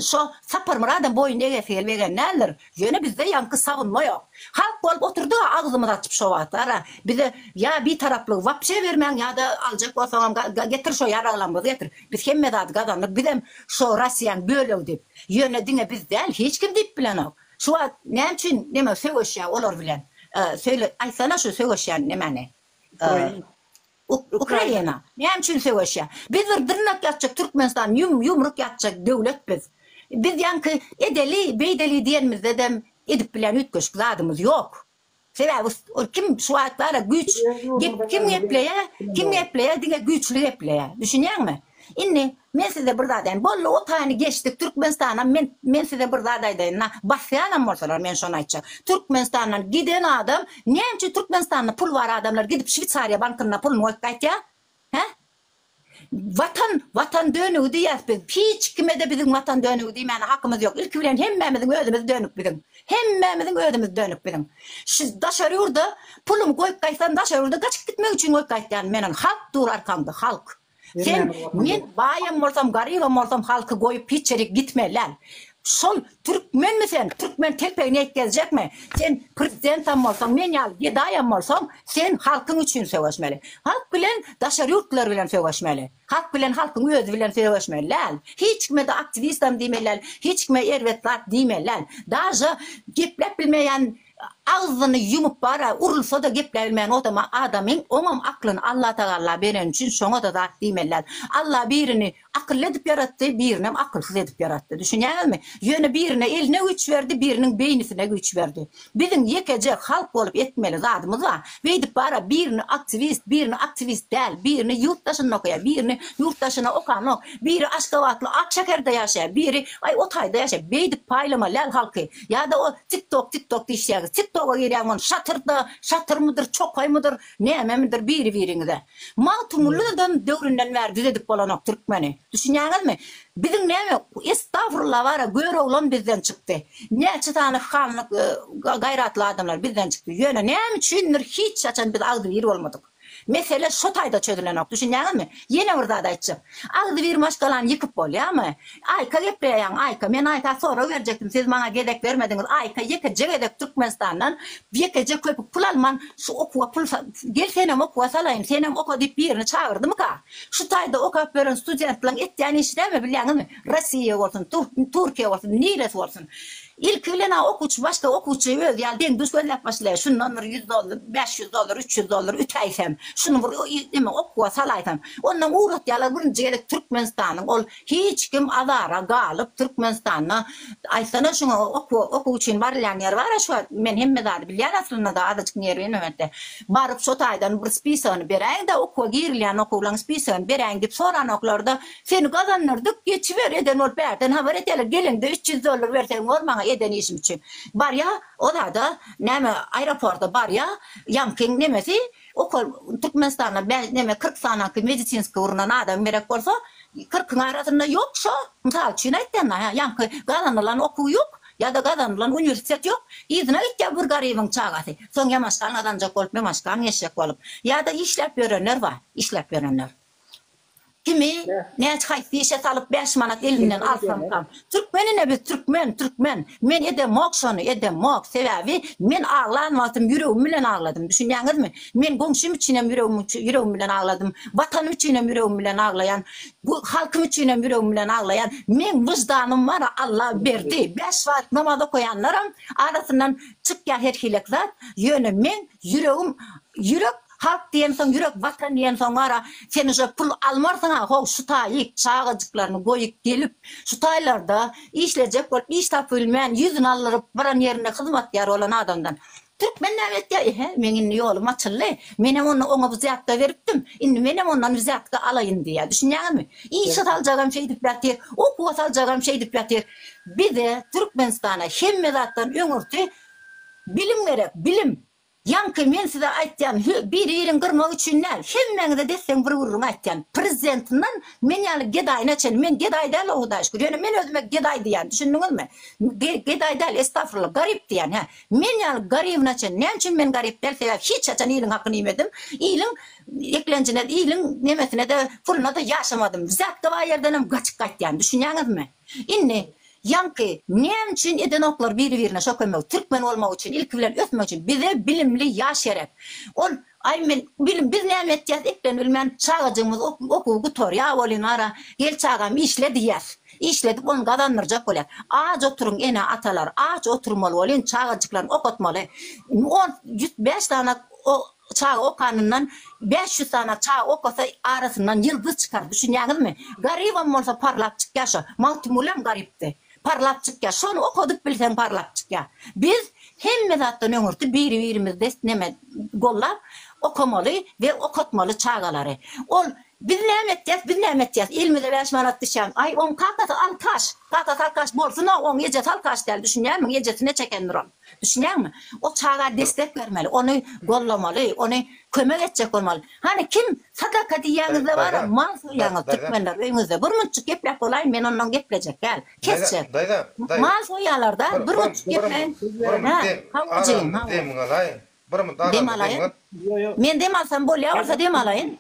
şo Saparmyradam boýun egesi gelip egen däldir. Ýöne bizde ýaňky sagunma ýok. Halk bolup oturdyga agzymyzy açyp şo wagtlara bize ýa bitaraplygy wapşe bermäň ýada aljak bolsaňam getir şo ýaraglaňyzy getir. Biz hemme zady gazandyk bizem şo Rossiýaň bölegi diýip. Ýöne diňe biz däl hiç kim diýip bilenok. Şu wagt näme üçin neme söweşýär olar bilen? Söyle aýtsana şu söweşýän nemäni? Ukraina. Näme üçin söweşýär? Biz bir dyrnak ýatjak Türkmenistan ýum ýumruk ýatjak döwlet biz. Biz ýaňky edeli beýdeli diýenimizde dem edip bilen üýtgeşik zadymyz ýok. Sebäbi ol kim şu wagt bara güýç gep kim gepleýä kim gepleýä diňe güýçli gepleýä düşünýäňmi indi men size bir zat aýaýyn boldy o taýyny geçdik Türkmenistanam men men size bir zat aýdaýyn na basýanam bolsalar men şony aýtjak Türkmenistandan giden adam näme üçin Türkmenistanda pul bar adamlar gidip şwitsariýa bankynda pulun goýup gaýtýa he Watan, Watan dönügi diýýäs biz. Hiç kime-de biziň Watan dönügi diýmäne hakymyz ýok. Ilki bilen hemmämiziň özümiz dönük biziň. Hemmämiziň özümiz dönük biziň. Şu daşary ýurda pulumy goýup gaýtsam, daşary ýurda gaçyp gitmek üçin goýup gaýtýan men ony. Halk dur arkaňda, halk. Sen, men baýam bolsam, garybam bolsam halky goýup hiç ýere gitmeli däl. Şol türkmenmi sen, türkmen telpegini ýetgezjekmi? Sen prezidentam bolsaň, men ýaly gedaýam bolsaň, sen halkyň üçin söweşmeli. Halk bilen daşary ýurtlar bilen söweşmeli. Halk bilen halkyň özi bilen söweşmeli däl. Hiç kime-de aktiwistam diýmeli däl, hiç kime erbet zat diýmeli däl. Daže gepläp bilmeýän agzyny ýumup bara urulsa-da gepläbilmeýän odama adamyň oňam aklyny Allatagalla bereni üçin şoňa-da zat diýmeli däl. Alla birini Akylly edip ýaratdy, birinem akylsyz edip ýaratdy. Düşünýäňizmi? Ýöne birine eline güýç berdi, biriniň beýnisine güýç berdi. Biziň ýekeje halk bolup etmeli zadymyz bar. Beýdip bara birini aktiwist, birini aktiwist däl, birini ýurt daşynda okaýar, birini ýurt daşyna okanok, biri Aşgabatly ak şäherde ýaşaýar, biri aý o taýda ýaşaýar. Beýdip paýlamaly däl halky. Ýa-da o tiktok, tiktok diýişýäňiz. Tiktoga girýäňmi ony şatyrda, şatyrmydyr, çokaýmydyr, Nämemidir biri-biriňize. Magtymgulydan döwründen bäri düzedip bolanok türkmeni. Düşünýäňizmi? Biziň näme estagfurullah bara göroglan bizden çykdy. Näçe sany hanlyk gaýratly adamlar bizden çykdy. Ýöne näme üçindir hiç haçan biz agzybir bolmadyk. Mesele şo taýda çözülenok. Düşünýäňizmi? Ýene bir zat aýtjak. Agzybir maşgalany ýykyp bolýamy? Aýka gepleýäň Aýka. Men Aýka sorag berjekdim siz maňa gezek bermediňiz. Aýka ýekeje gezek Türkmenistandan ýekeje köpük pul alman şu okuwa pul sal gel senem okuwa salaýyn senem oka diýip birini çagyrdymyka? Şu taýda okap ýören studentlaň etýän işi näme bilýäňizmi? Rossiýa bolsun, Türkiýe bolsun, niresi bolsun. Ilki bilen-ä okuwçy başda okuwçy özi ýaly deň-duş gözläp başlaýar. Şundan bir ýüz dollar, bäş ýüz dollar, üç ýüz dollar ütäýsem, şuny bir neme okuwa salaýsam, ondan ugratýarlar birinji gezek Türkmenistanyň ol hiç kim azara galyp Türkmenistanda aýtsana şuňa okuwa okuw üçin barylýan ýer bar-a şu wagt men hemme zady bilýän aslynda-da azajyk ýer bilmemende baryp şo taýdan bir spisagyny beräýiň-de okuwa girilýän okuwlaň spisagyny beräýiň diýip soranoklar-da Seni gazandyrdyk, geçiber, eden bolup bärden habar edeler, geleňde üç ýüz dollar berseň bor maňa eden işim üçin. Barýa, o zada, näme, aeroporta barýa, ýaňky nemesi, ukol, Türkmenistanda bä, neme, kyrk sanaňky medisinskiý urnan adam gerek bolsa, kyrkyň arasynda ýok şo, mysal üçin aýtdym-da, hä, ýaňky gazanylan okuw ýok, ýa-da gazanylan uniwersitet ýok, yzyna gitýä bir garybyň çagasy, soň ýamaşgan gazanjak bolup, ýamaşgan geçjek bolup, ýa-da işläp ýörenler bar, işläp ýörenler. Kimi näçe haýsy işe salyp bäş manat elinden alsamkam. Türkmen ine biz türkmen türkmen. Men edemok şony edemok sebäbi men aglan wagtym ýüregim bilen agladym düşünýäňizmi. Men goňşym üçinem ýüregim ýüregim bilen agladym. Watanym üçinem ýüregim bilen aglaýan. Bu halkym üçinem ýüregim bilen aglaýan. Meň wyždanym bar Alla berdi. Bäş wagt namaz okaýanlaram arasyndan çykýar her hilek zat. Ýöne meň ýüregim ýürek Halk diýensoň ýürek watan diýensoň wara sen uje pul almarsyňa how şu taýyk çagajyklaryny goýup gelip şu taýlarda işlejek bolup iş tapybilmän ýüzüni aldyryp baran ýerinde hyzmatgär bolan adamdan Türkmen näme etýä ehe meň indi ýolum açyldy menem onda oňa wzýatka beripdim indi menem ondan wzýatka alaýyn diýýä düşünýäňizmi işe saljagam şeýdip ýatyr okuwa saljagam şeýdip ýatyr bize Türkmenistana hemme zatdan öňürti bilim gerek bilim Ýaňky men size aýtýan hü biri birin gyrmak üçin däl hemmäňize desseň bir gürrüň aýtýan prezidentinden men ýaly gedaýyna çen men gedaý däl o hudaý şükür ýöne men özüme gedaý diýýän düşündiňizmi gedaý däl estafurla garyp diýýän hä men ýaly garybyna çen näme üçin men garyp däl sebäbi hiç haçan iliň hakyny iýmedim iliň eklenjine iliň nemesinede puluna-da ýaşamadym zatgabaý ýerdenem gaçyp gaýtýan düşünýäňizmi. Indi, ýaňky, näme üçin edenoklar biri-birine şo kömegi? Türkmen bolmak üçin, ilki bilen ösmek üçin. Bize bilimli ýaş gerek. Ol, Aý, men, bilim, biz näme etýäs, eklenip bilmän, çagajygymyz okuwy gutarýar welin, wara, gel çagam, işle diýýäs. Işledip, ony gazandyrjak bolýas. Aç oturyň ene-atalar, aç oturmaly welin, çagajyklaryny okatmaly. On, ýüz bäş sany Çaga okanyndan bäş ýüz sany çaga okasa arasyndan ýyldyz çykar düşünýäňizmi? Garybam bolsa parlap çykýar şo. Magtymgulyam garypdy. Parlap çykýar. Şony okadyp bilseň parlap çykýar. Biz hemme zatdan öňürti biri-birimizde neme gollap okamaly we okatmaly çagalary. Ol Biz näme etýäs, biz näme etýäs, elimize bäş manat düşýän. Aý oň kakasy alkaş. Kakasy alkaş bolsun-a oň ejesi alkaş däl düşünýärmiň? Ejesi neçe ekendir ol. Düşünýäňmi? O çaga destek bermeli, ony gollamaly, ony kömek etjek bolmaly. Hany kim sadaka diýýäňizde bara mal soýýaňyz türkmenler öýüňizde. Bir munçuk gepläp bolaýyn men ondan geplejek däl. Kesjek. Mal soýýalarda bir munçuk gepläýin. Hä? Hawa jigim, hawa. Dem alaýyn. Men dem alsam bolýa bolsa dem alaýyn.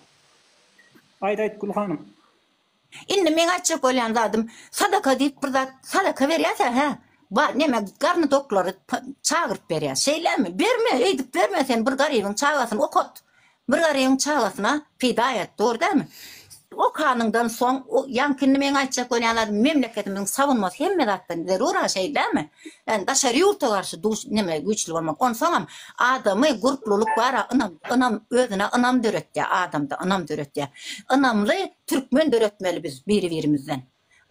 Aýt aýt Gül hanym. Indi meň aýtjak bolýan zadym, sadaka diýip bir zat sadaka berýärse, hä, bar, neme, garny doklary çagyryp berýär. Şeýlemi? Berme, öýdüp berme sen bir garybyň çagasyny okat. Bir garybyň çagasyna peýda et, dogry dälmi? Okanyňdan soň, ýaňky indi meň aýtjak bolýan zadym, memleketimiziň sabynmasy hemme zatdan zerur-a, şeýdämi? Ýagny daşary ýurta garşy duş, neme, güýçli bolmak. Onsoňam adamy gurplulyk bar-a, ynam, ynam, özüne ynam döretýär, adamda ynam döretýär. Ynamly Türkmen döretmeli biz biri birimizden.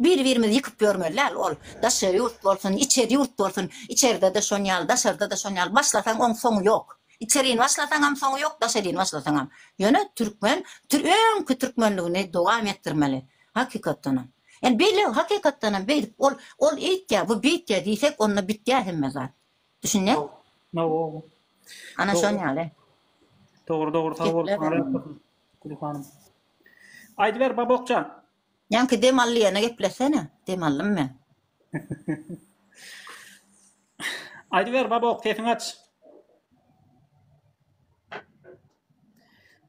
Biri birimizi ýykyp ýörmeli däl ol daşary ýurt bolsun içeri ýurt bolsun içerdede şon ýaly daşardada şon ýaly başlasaň oň soňy ýok içerini başlasaňam soňy ýok daşarini başlasaňam ýöne türkmen tür öňki türkmenligini dowam etdirmeli hakykatdanam ýani beýle hakykatdanam beýdip ol ol eýtýä bu beýtýä diýsek onda bitýä hemme zat düşünýä Hawa ana şon ýaly. Dogry dogry sag bol Gülhanym. Aýdyber Babokjan. Janki dem allyýana gepleşene dem allym men. Aýdyber Babok sesiňi aç.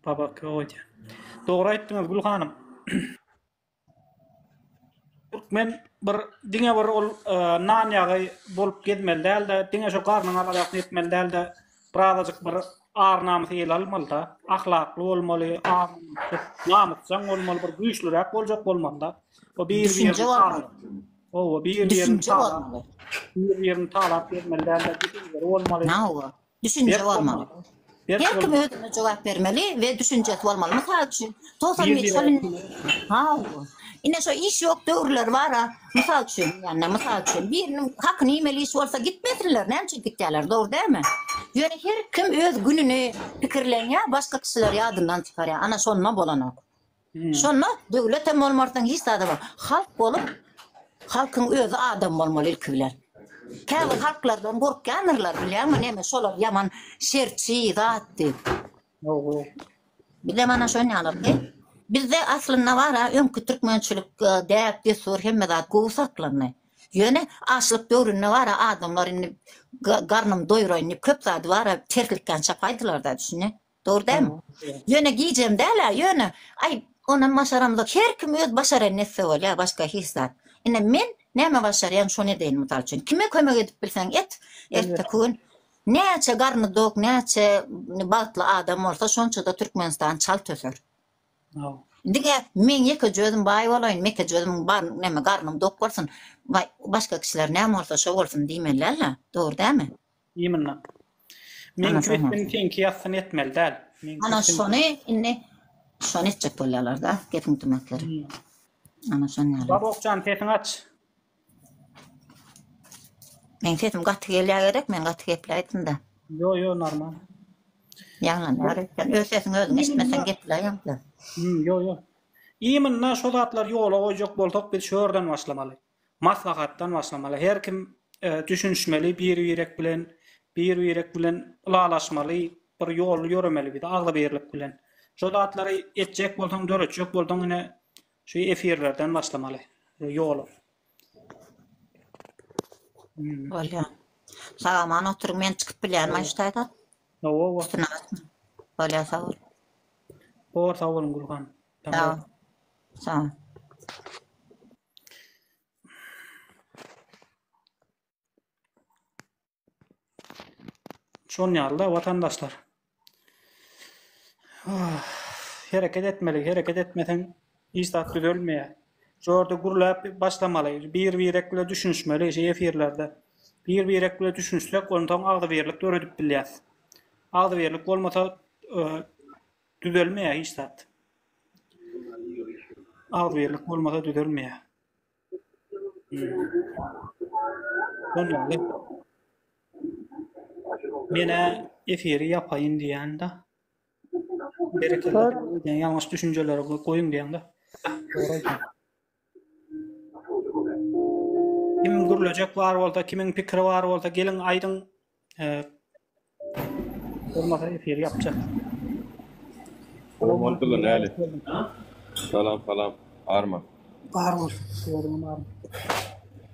Babok goýdy. Dogry aýtdyňyz Gül hanym. Türkmen bir diňe bir ol e, nan ýagy bolup gezmeli dälde, diňe şu garnyň alajasyny etmeli dälde, Birazajyk bir ar-namys ele almaly-da, ahlakly bolmaly, namysjaň bolmaly, bir güýçlüräk boljak bolmaly-da. O bir-birini talap. Owa, bir-birini talap. Bir-birini talap bermeli däldi, düşünjeli bolmaly. Nawa, düşünjeli bolmaly. Her kim özüne jogap bermeli we düşünjesi bolmaly. Mysal üçin, Togsan Ýedi ýyl ýedi ýyl. Haw. Ine şo iş ýok döwürleri bar-a. Mysal üçin diýende, mysal üçin. Biriniň hakyna iýmeli iş bolsa gitmesinler, näme üçin gitýärler, dogry dälmi? Ýöne her kim öz gününi pikirlenýär, başga kişileri ýadyndan çykarýar. Ana şonda bolanok. Şonda döwlet hem bolmarsyň, hiç zat hem. Halk bolup, halkyň özi adam bolmaly ilki bilen. Käbir halklardan gorkýandyr-lar, bilýäňmi, neme şolar ýaman şerçi zat diýip. Oho. Bizem ana şonýalardy. Bizde aslynda bar-a, öňki türkmençilik, e, däp, dessur hemme zat gowy saklandy. Ýöne açlyk döwründe bar-a, adamlar indi ga- garnym doýuraýyn diýip, köp zady bar-a, terslikden çapaýdylar-da, düşündi. Dogry dälmi? Ýöne gijem däl-ä, ýöne aý, onam başaramzok. Her kim öz başaran nesse bolýar, başga hiç zat. Ine, men näme başarýan, şony edeýin, mysal üçin. Kime kömek edip bilseň et, erteki gün Näçe garny dok, näçe bagtly adam bolsa şonçada Türkmenistan çalt öser. Haw. Diňe men ýekeje özüm baý bolaýyn, mekeje özüm bar, näme garnym dok bolsun, baý, başga kişiler näme bolsa şo bolsun diýmeli däl-ä, dogry dälmi? Imnna. Men Ana, şoňa. kürsümi seňki ýassyny etmeli däl. Men Ana kürsümi- şony indi şony etjek bolýarlar-da, gepiň tümetleri. Ana şon ýaly. Babokjan sesiňi aç. Meň sesim gaty gelýä gerek men gaty gepläýdimda. Yo yo normal. Ýaňlanýar ekeni. Öz sesiňi özüň eşitmeseň gepläýemda. Hmm yo yo. Iminna şo zatlar ýola goýjak bolsak biz şu ýerden başlamaly. Maslahatdan başlamaly. Her kim düşünişmeli bir birek bilen. Bir birek bilen ylalaşmaly. Bir ýoly ýöremeli biz agzybirlik bilen. Şo zatlary etjek bolsaň döretjek bolsaň ine Şu efirlerden başlamaly. Ýola. Bolýar. Sag aman oturyň men çykyp bilýärmi şu taýdan? Hawa, hawa. Bolýar sag bol. Bor sag boluň Gülhan. Sag ol. Sag ol. Şon ýaly-da watandaşlar. Ah, hereket etmeli, hereket etmeseň hiç zat düzelmeýär. Şu ýerde gürläp başlamaly, bir-birek bilen düşünişmeli şu efirlerde. Bir-birek bilen düşünişsek, onsoň agzybirlik döredip bilýäs. Agzybirlik bolmasa, e, düzelmeýär hiç zat. Agzybirlik bolmasa düzelmeýär. Menä efiri ýapaýyn diýýän-de. Berekella. Ýalňyş düşünjeleri goýuň diýýän-de. Kim gürlejek bar bolsa, kimiň pikiri bar bolsa, geliň aýdyň. Durmasa efir yapjak. Omal kılın eli. Salam salam. Arma. Bar bol. Görüm bar.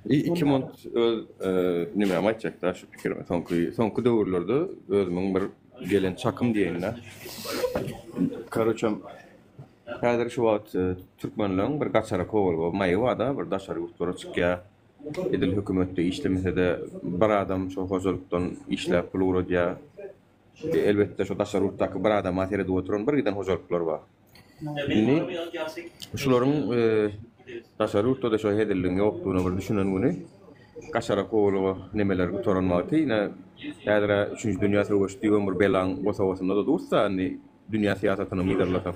İ- İki mont öz e, nime aytacak da şu pikirime. Sonki, sonki döwürlerde özümün bir gelen çakym diýenine. Karoçam Häzir şu wagt e, türkmenleriň bir gaçara kowalga maýy bar da bir daşary ýurtlara çykýar. Edil hökümetde işlemese-de, bir adam şol hojalykdan işläp pul ugradýar. Elbetde, şo daşary ýurtdaky bir adama seredip oturan bir giden hojalyklar bar. Indi şularyň daşary ýurtda-da şo hezilligiň ýokdugyna bir düşünen güni, gaşara kowluga nemeler gutaran wagty, ine, häzir-ä üçünji dünýä söweşi düýbem bir belaň bosagasynda-da dursa, indi dünýä syýasatyny myyrlasak.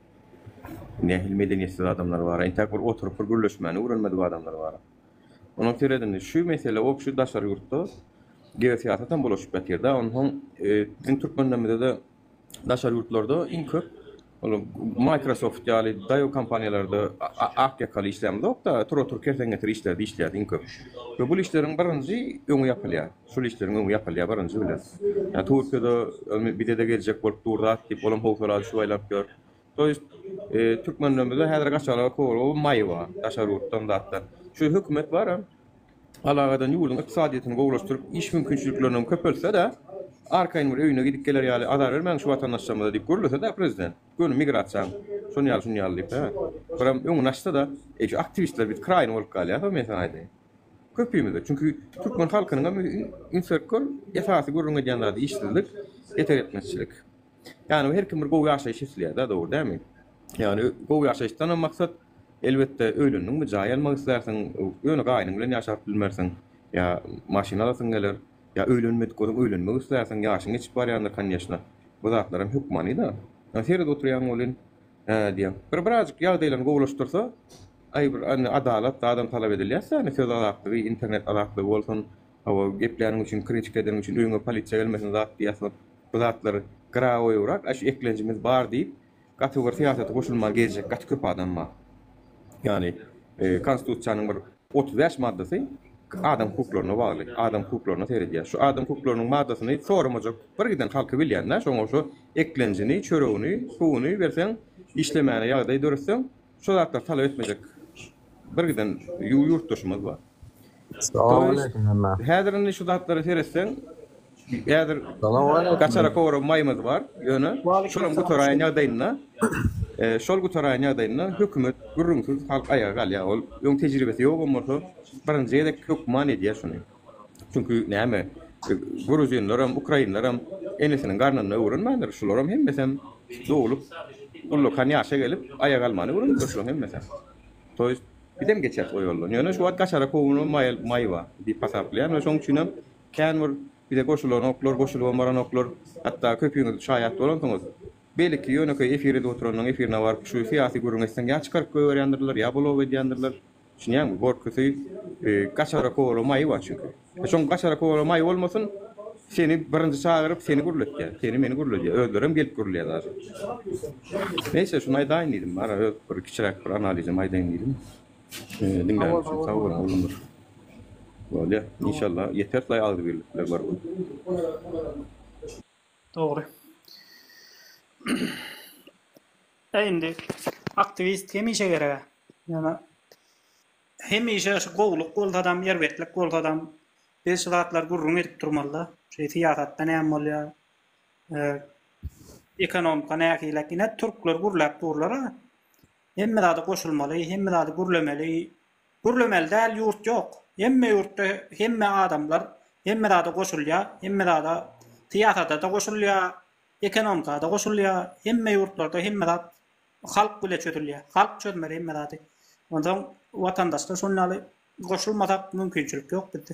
Nähili medeniýetsiz adamlar bar-a? Entäk bir oturyp bir gürleşmäni öwrenmedik adamlar bar-a? Onuň sebäbi indi şu mesele o kişi daşary ýurtda geosyýasatam bulaşyp ýatyr-da. Onsoň biziň türkmenlerimizede daşary ýurtlarda iň köp ol Microsoft ýaly daýaw kompaniýalarda ak ýakaly işlänimizok-da, tura-tur kersen getir işlerde işleýäs iň köp. We bul işleriň birinji öňi ýapylýar. Şul işleriň öňi ýapylýar birinji bilen. Ýa Türkiýede öňi bizede geljek bolup dur zat diýip olam howsala düşüp aýlap ýör. To ýest türkmenlerimizde häzir gaçalyga kowalga maý bar daşary ýurtdan zatdan. Şu hökümet baram alaga eden ýurduň ykdysadyýetini gowulaşdyryp iş mümkinçiliklerinem köpeltse-de arkaýyn bir öýüne gidip geler ýaly azar bermäň şu watandaşlarymyza diýip gürlese-de prezident göni migrasiýaň şony ýaly şuny ýaly diýip hä. Biram öňüni açsa-da. Eý şu aktiwistler biz kraýyny bolup galýas-a men saňa aýdaýyn. Köpimize, çünki türkmen halkynyň hem üns berkor esasy gürrüň edýän zady işsizlik, etek etmezçilik. Ýani her kim bir gowy ýaşaýyş isleýärda dogry dälmi? Ýani gowy ýaşaýyşdan hem maksat elbetde öýlendiňmi jaý almak islärsiň, ýöne gaýynyň bilen ýaşap bilmersiň, ýa maşyn alasyň geler, ýa öýlenmedik bolsaň öýlenmek islärsiň, ýaşyň geçip barýandyr konýeşna. Bu zatlaram hökmanyda. Ýöne seredip oturýaň welin, Hä diýýän. Bir birazjyk ýagdaýlaryny gowulaşdyrsa, aý bir indi adalat zadam talap edilýäs-dä indi söz azatlygy, internet azatlygy bolsun, hawa gepläniň üçin, krinçik edeniň üçin öýüňe polisiýa gelmesin zat diýýäs ol. Bu zatlar graoýybrak, aş eklenjimiz bar diýip, gaty bir syýasata goşulman gezjek gaty köp adam bar. Ýagny konstitusiýanyň bir Otuz bäş maddasy adam hukuklaryna bagly, adam hukuklaryna seredýär. Şu adam hukuklarynyň maddasyny soramajak bir giden halky bilýän-dä, şoňa şu eklenjini, çöregini, suwuny berseň, işlemäne ýagdaý döretseň, şu zatlary talap etmejek bir giden ýurtdaşymyz bar. Salam aleýkum hemmä. Häzir indi şu zatlara seretseň, Häzir gaçara kowra maýymyz bar, ýöne şolam gutaraýan ýagdaýynda, şol gutaraýan ýagdaýynda hökümet gürrüňsiz halk aýaga galýar. Ol öň tejribesi ýogam bolsa, birinji gezek hökman edýär şuny. Çünki näme, gruzinleram, ukrainleram enesiniň garnynda öwrenmändir, şularam hemmesem doglup, ullakan ýaşa gelip, aýak almany öwrenipdir şulaň hemmesem. To ýest, bizem geçeris o ýoldan. Ýöne şu wagt gaçara kowra maýy bar diýip hasaplaýan we şoň üçinem Kän bir bize goşulanoklar, goşulybam baranoklar. Hatda köpüňiz şaýat bolansyňyz. Belki, ýönekeý efir edip oturanyň efirine baryp, şu syýasy gürrüňi etseň ýa çykaryp goýberýändirler, ýa blok edýändirler. Düşünýäňmi? Gorkusy, gaçara kowaly maýy bar çünki. Şoň gaçara kowaly maýy bolmasyn, seni birinji çagyryp, seni gürletýär. Seni, meni gürledýär. Özlerem gelip gürleýär daşy. Neýse, şuny aýdaýyn diýdim. Ara öz bir kiçiräk bir analizimi aýdaýyn diýdim. Ee, diňläni üçin sag bol Gulumyr. Bolýa, inşalla ýeter taý agzybirlikler bar bul. Dogry. Ä indi aktiwist hemişe gereg-ä. Ýöne hemişe şu gowluk bolsadam, erbetlik bolsadam biz şu zatlary gürrüň edip durmaly-da. Şu syýasatda näme bolýar? Ee, ekonomika nähili? Ine türkler gürläp durlar-a. Hemme zada goşulmaly, hemme zady gürlemeli, gürlemeli däl ýurt ýok. Hemme ýurtda hemme adamlar hemme zada goşulýar, hemme zada syýasata-da goşulýar, ekonomika-da goşulýar, hemme ýurtlarda hemme zat halk bile çözülýär. Halk çözmeli hemme zady. Onsoň watandaşlar şonuň ýaly goşulmasak mümkinçilik ýok bizde.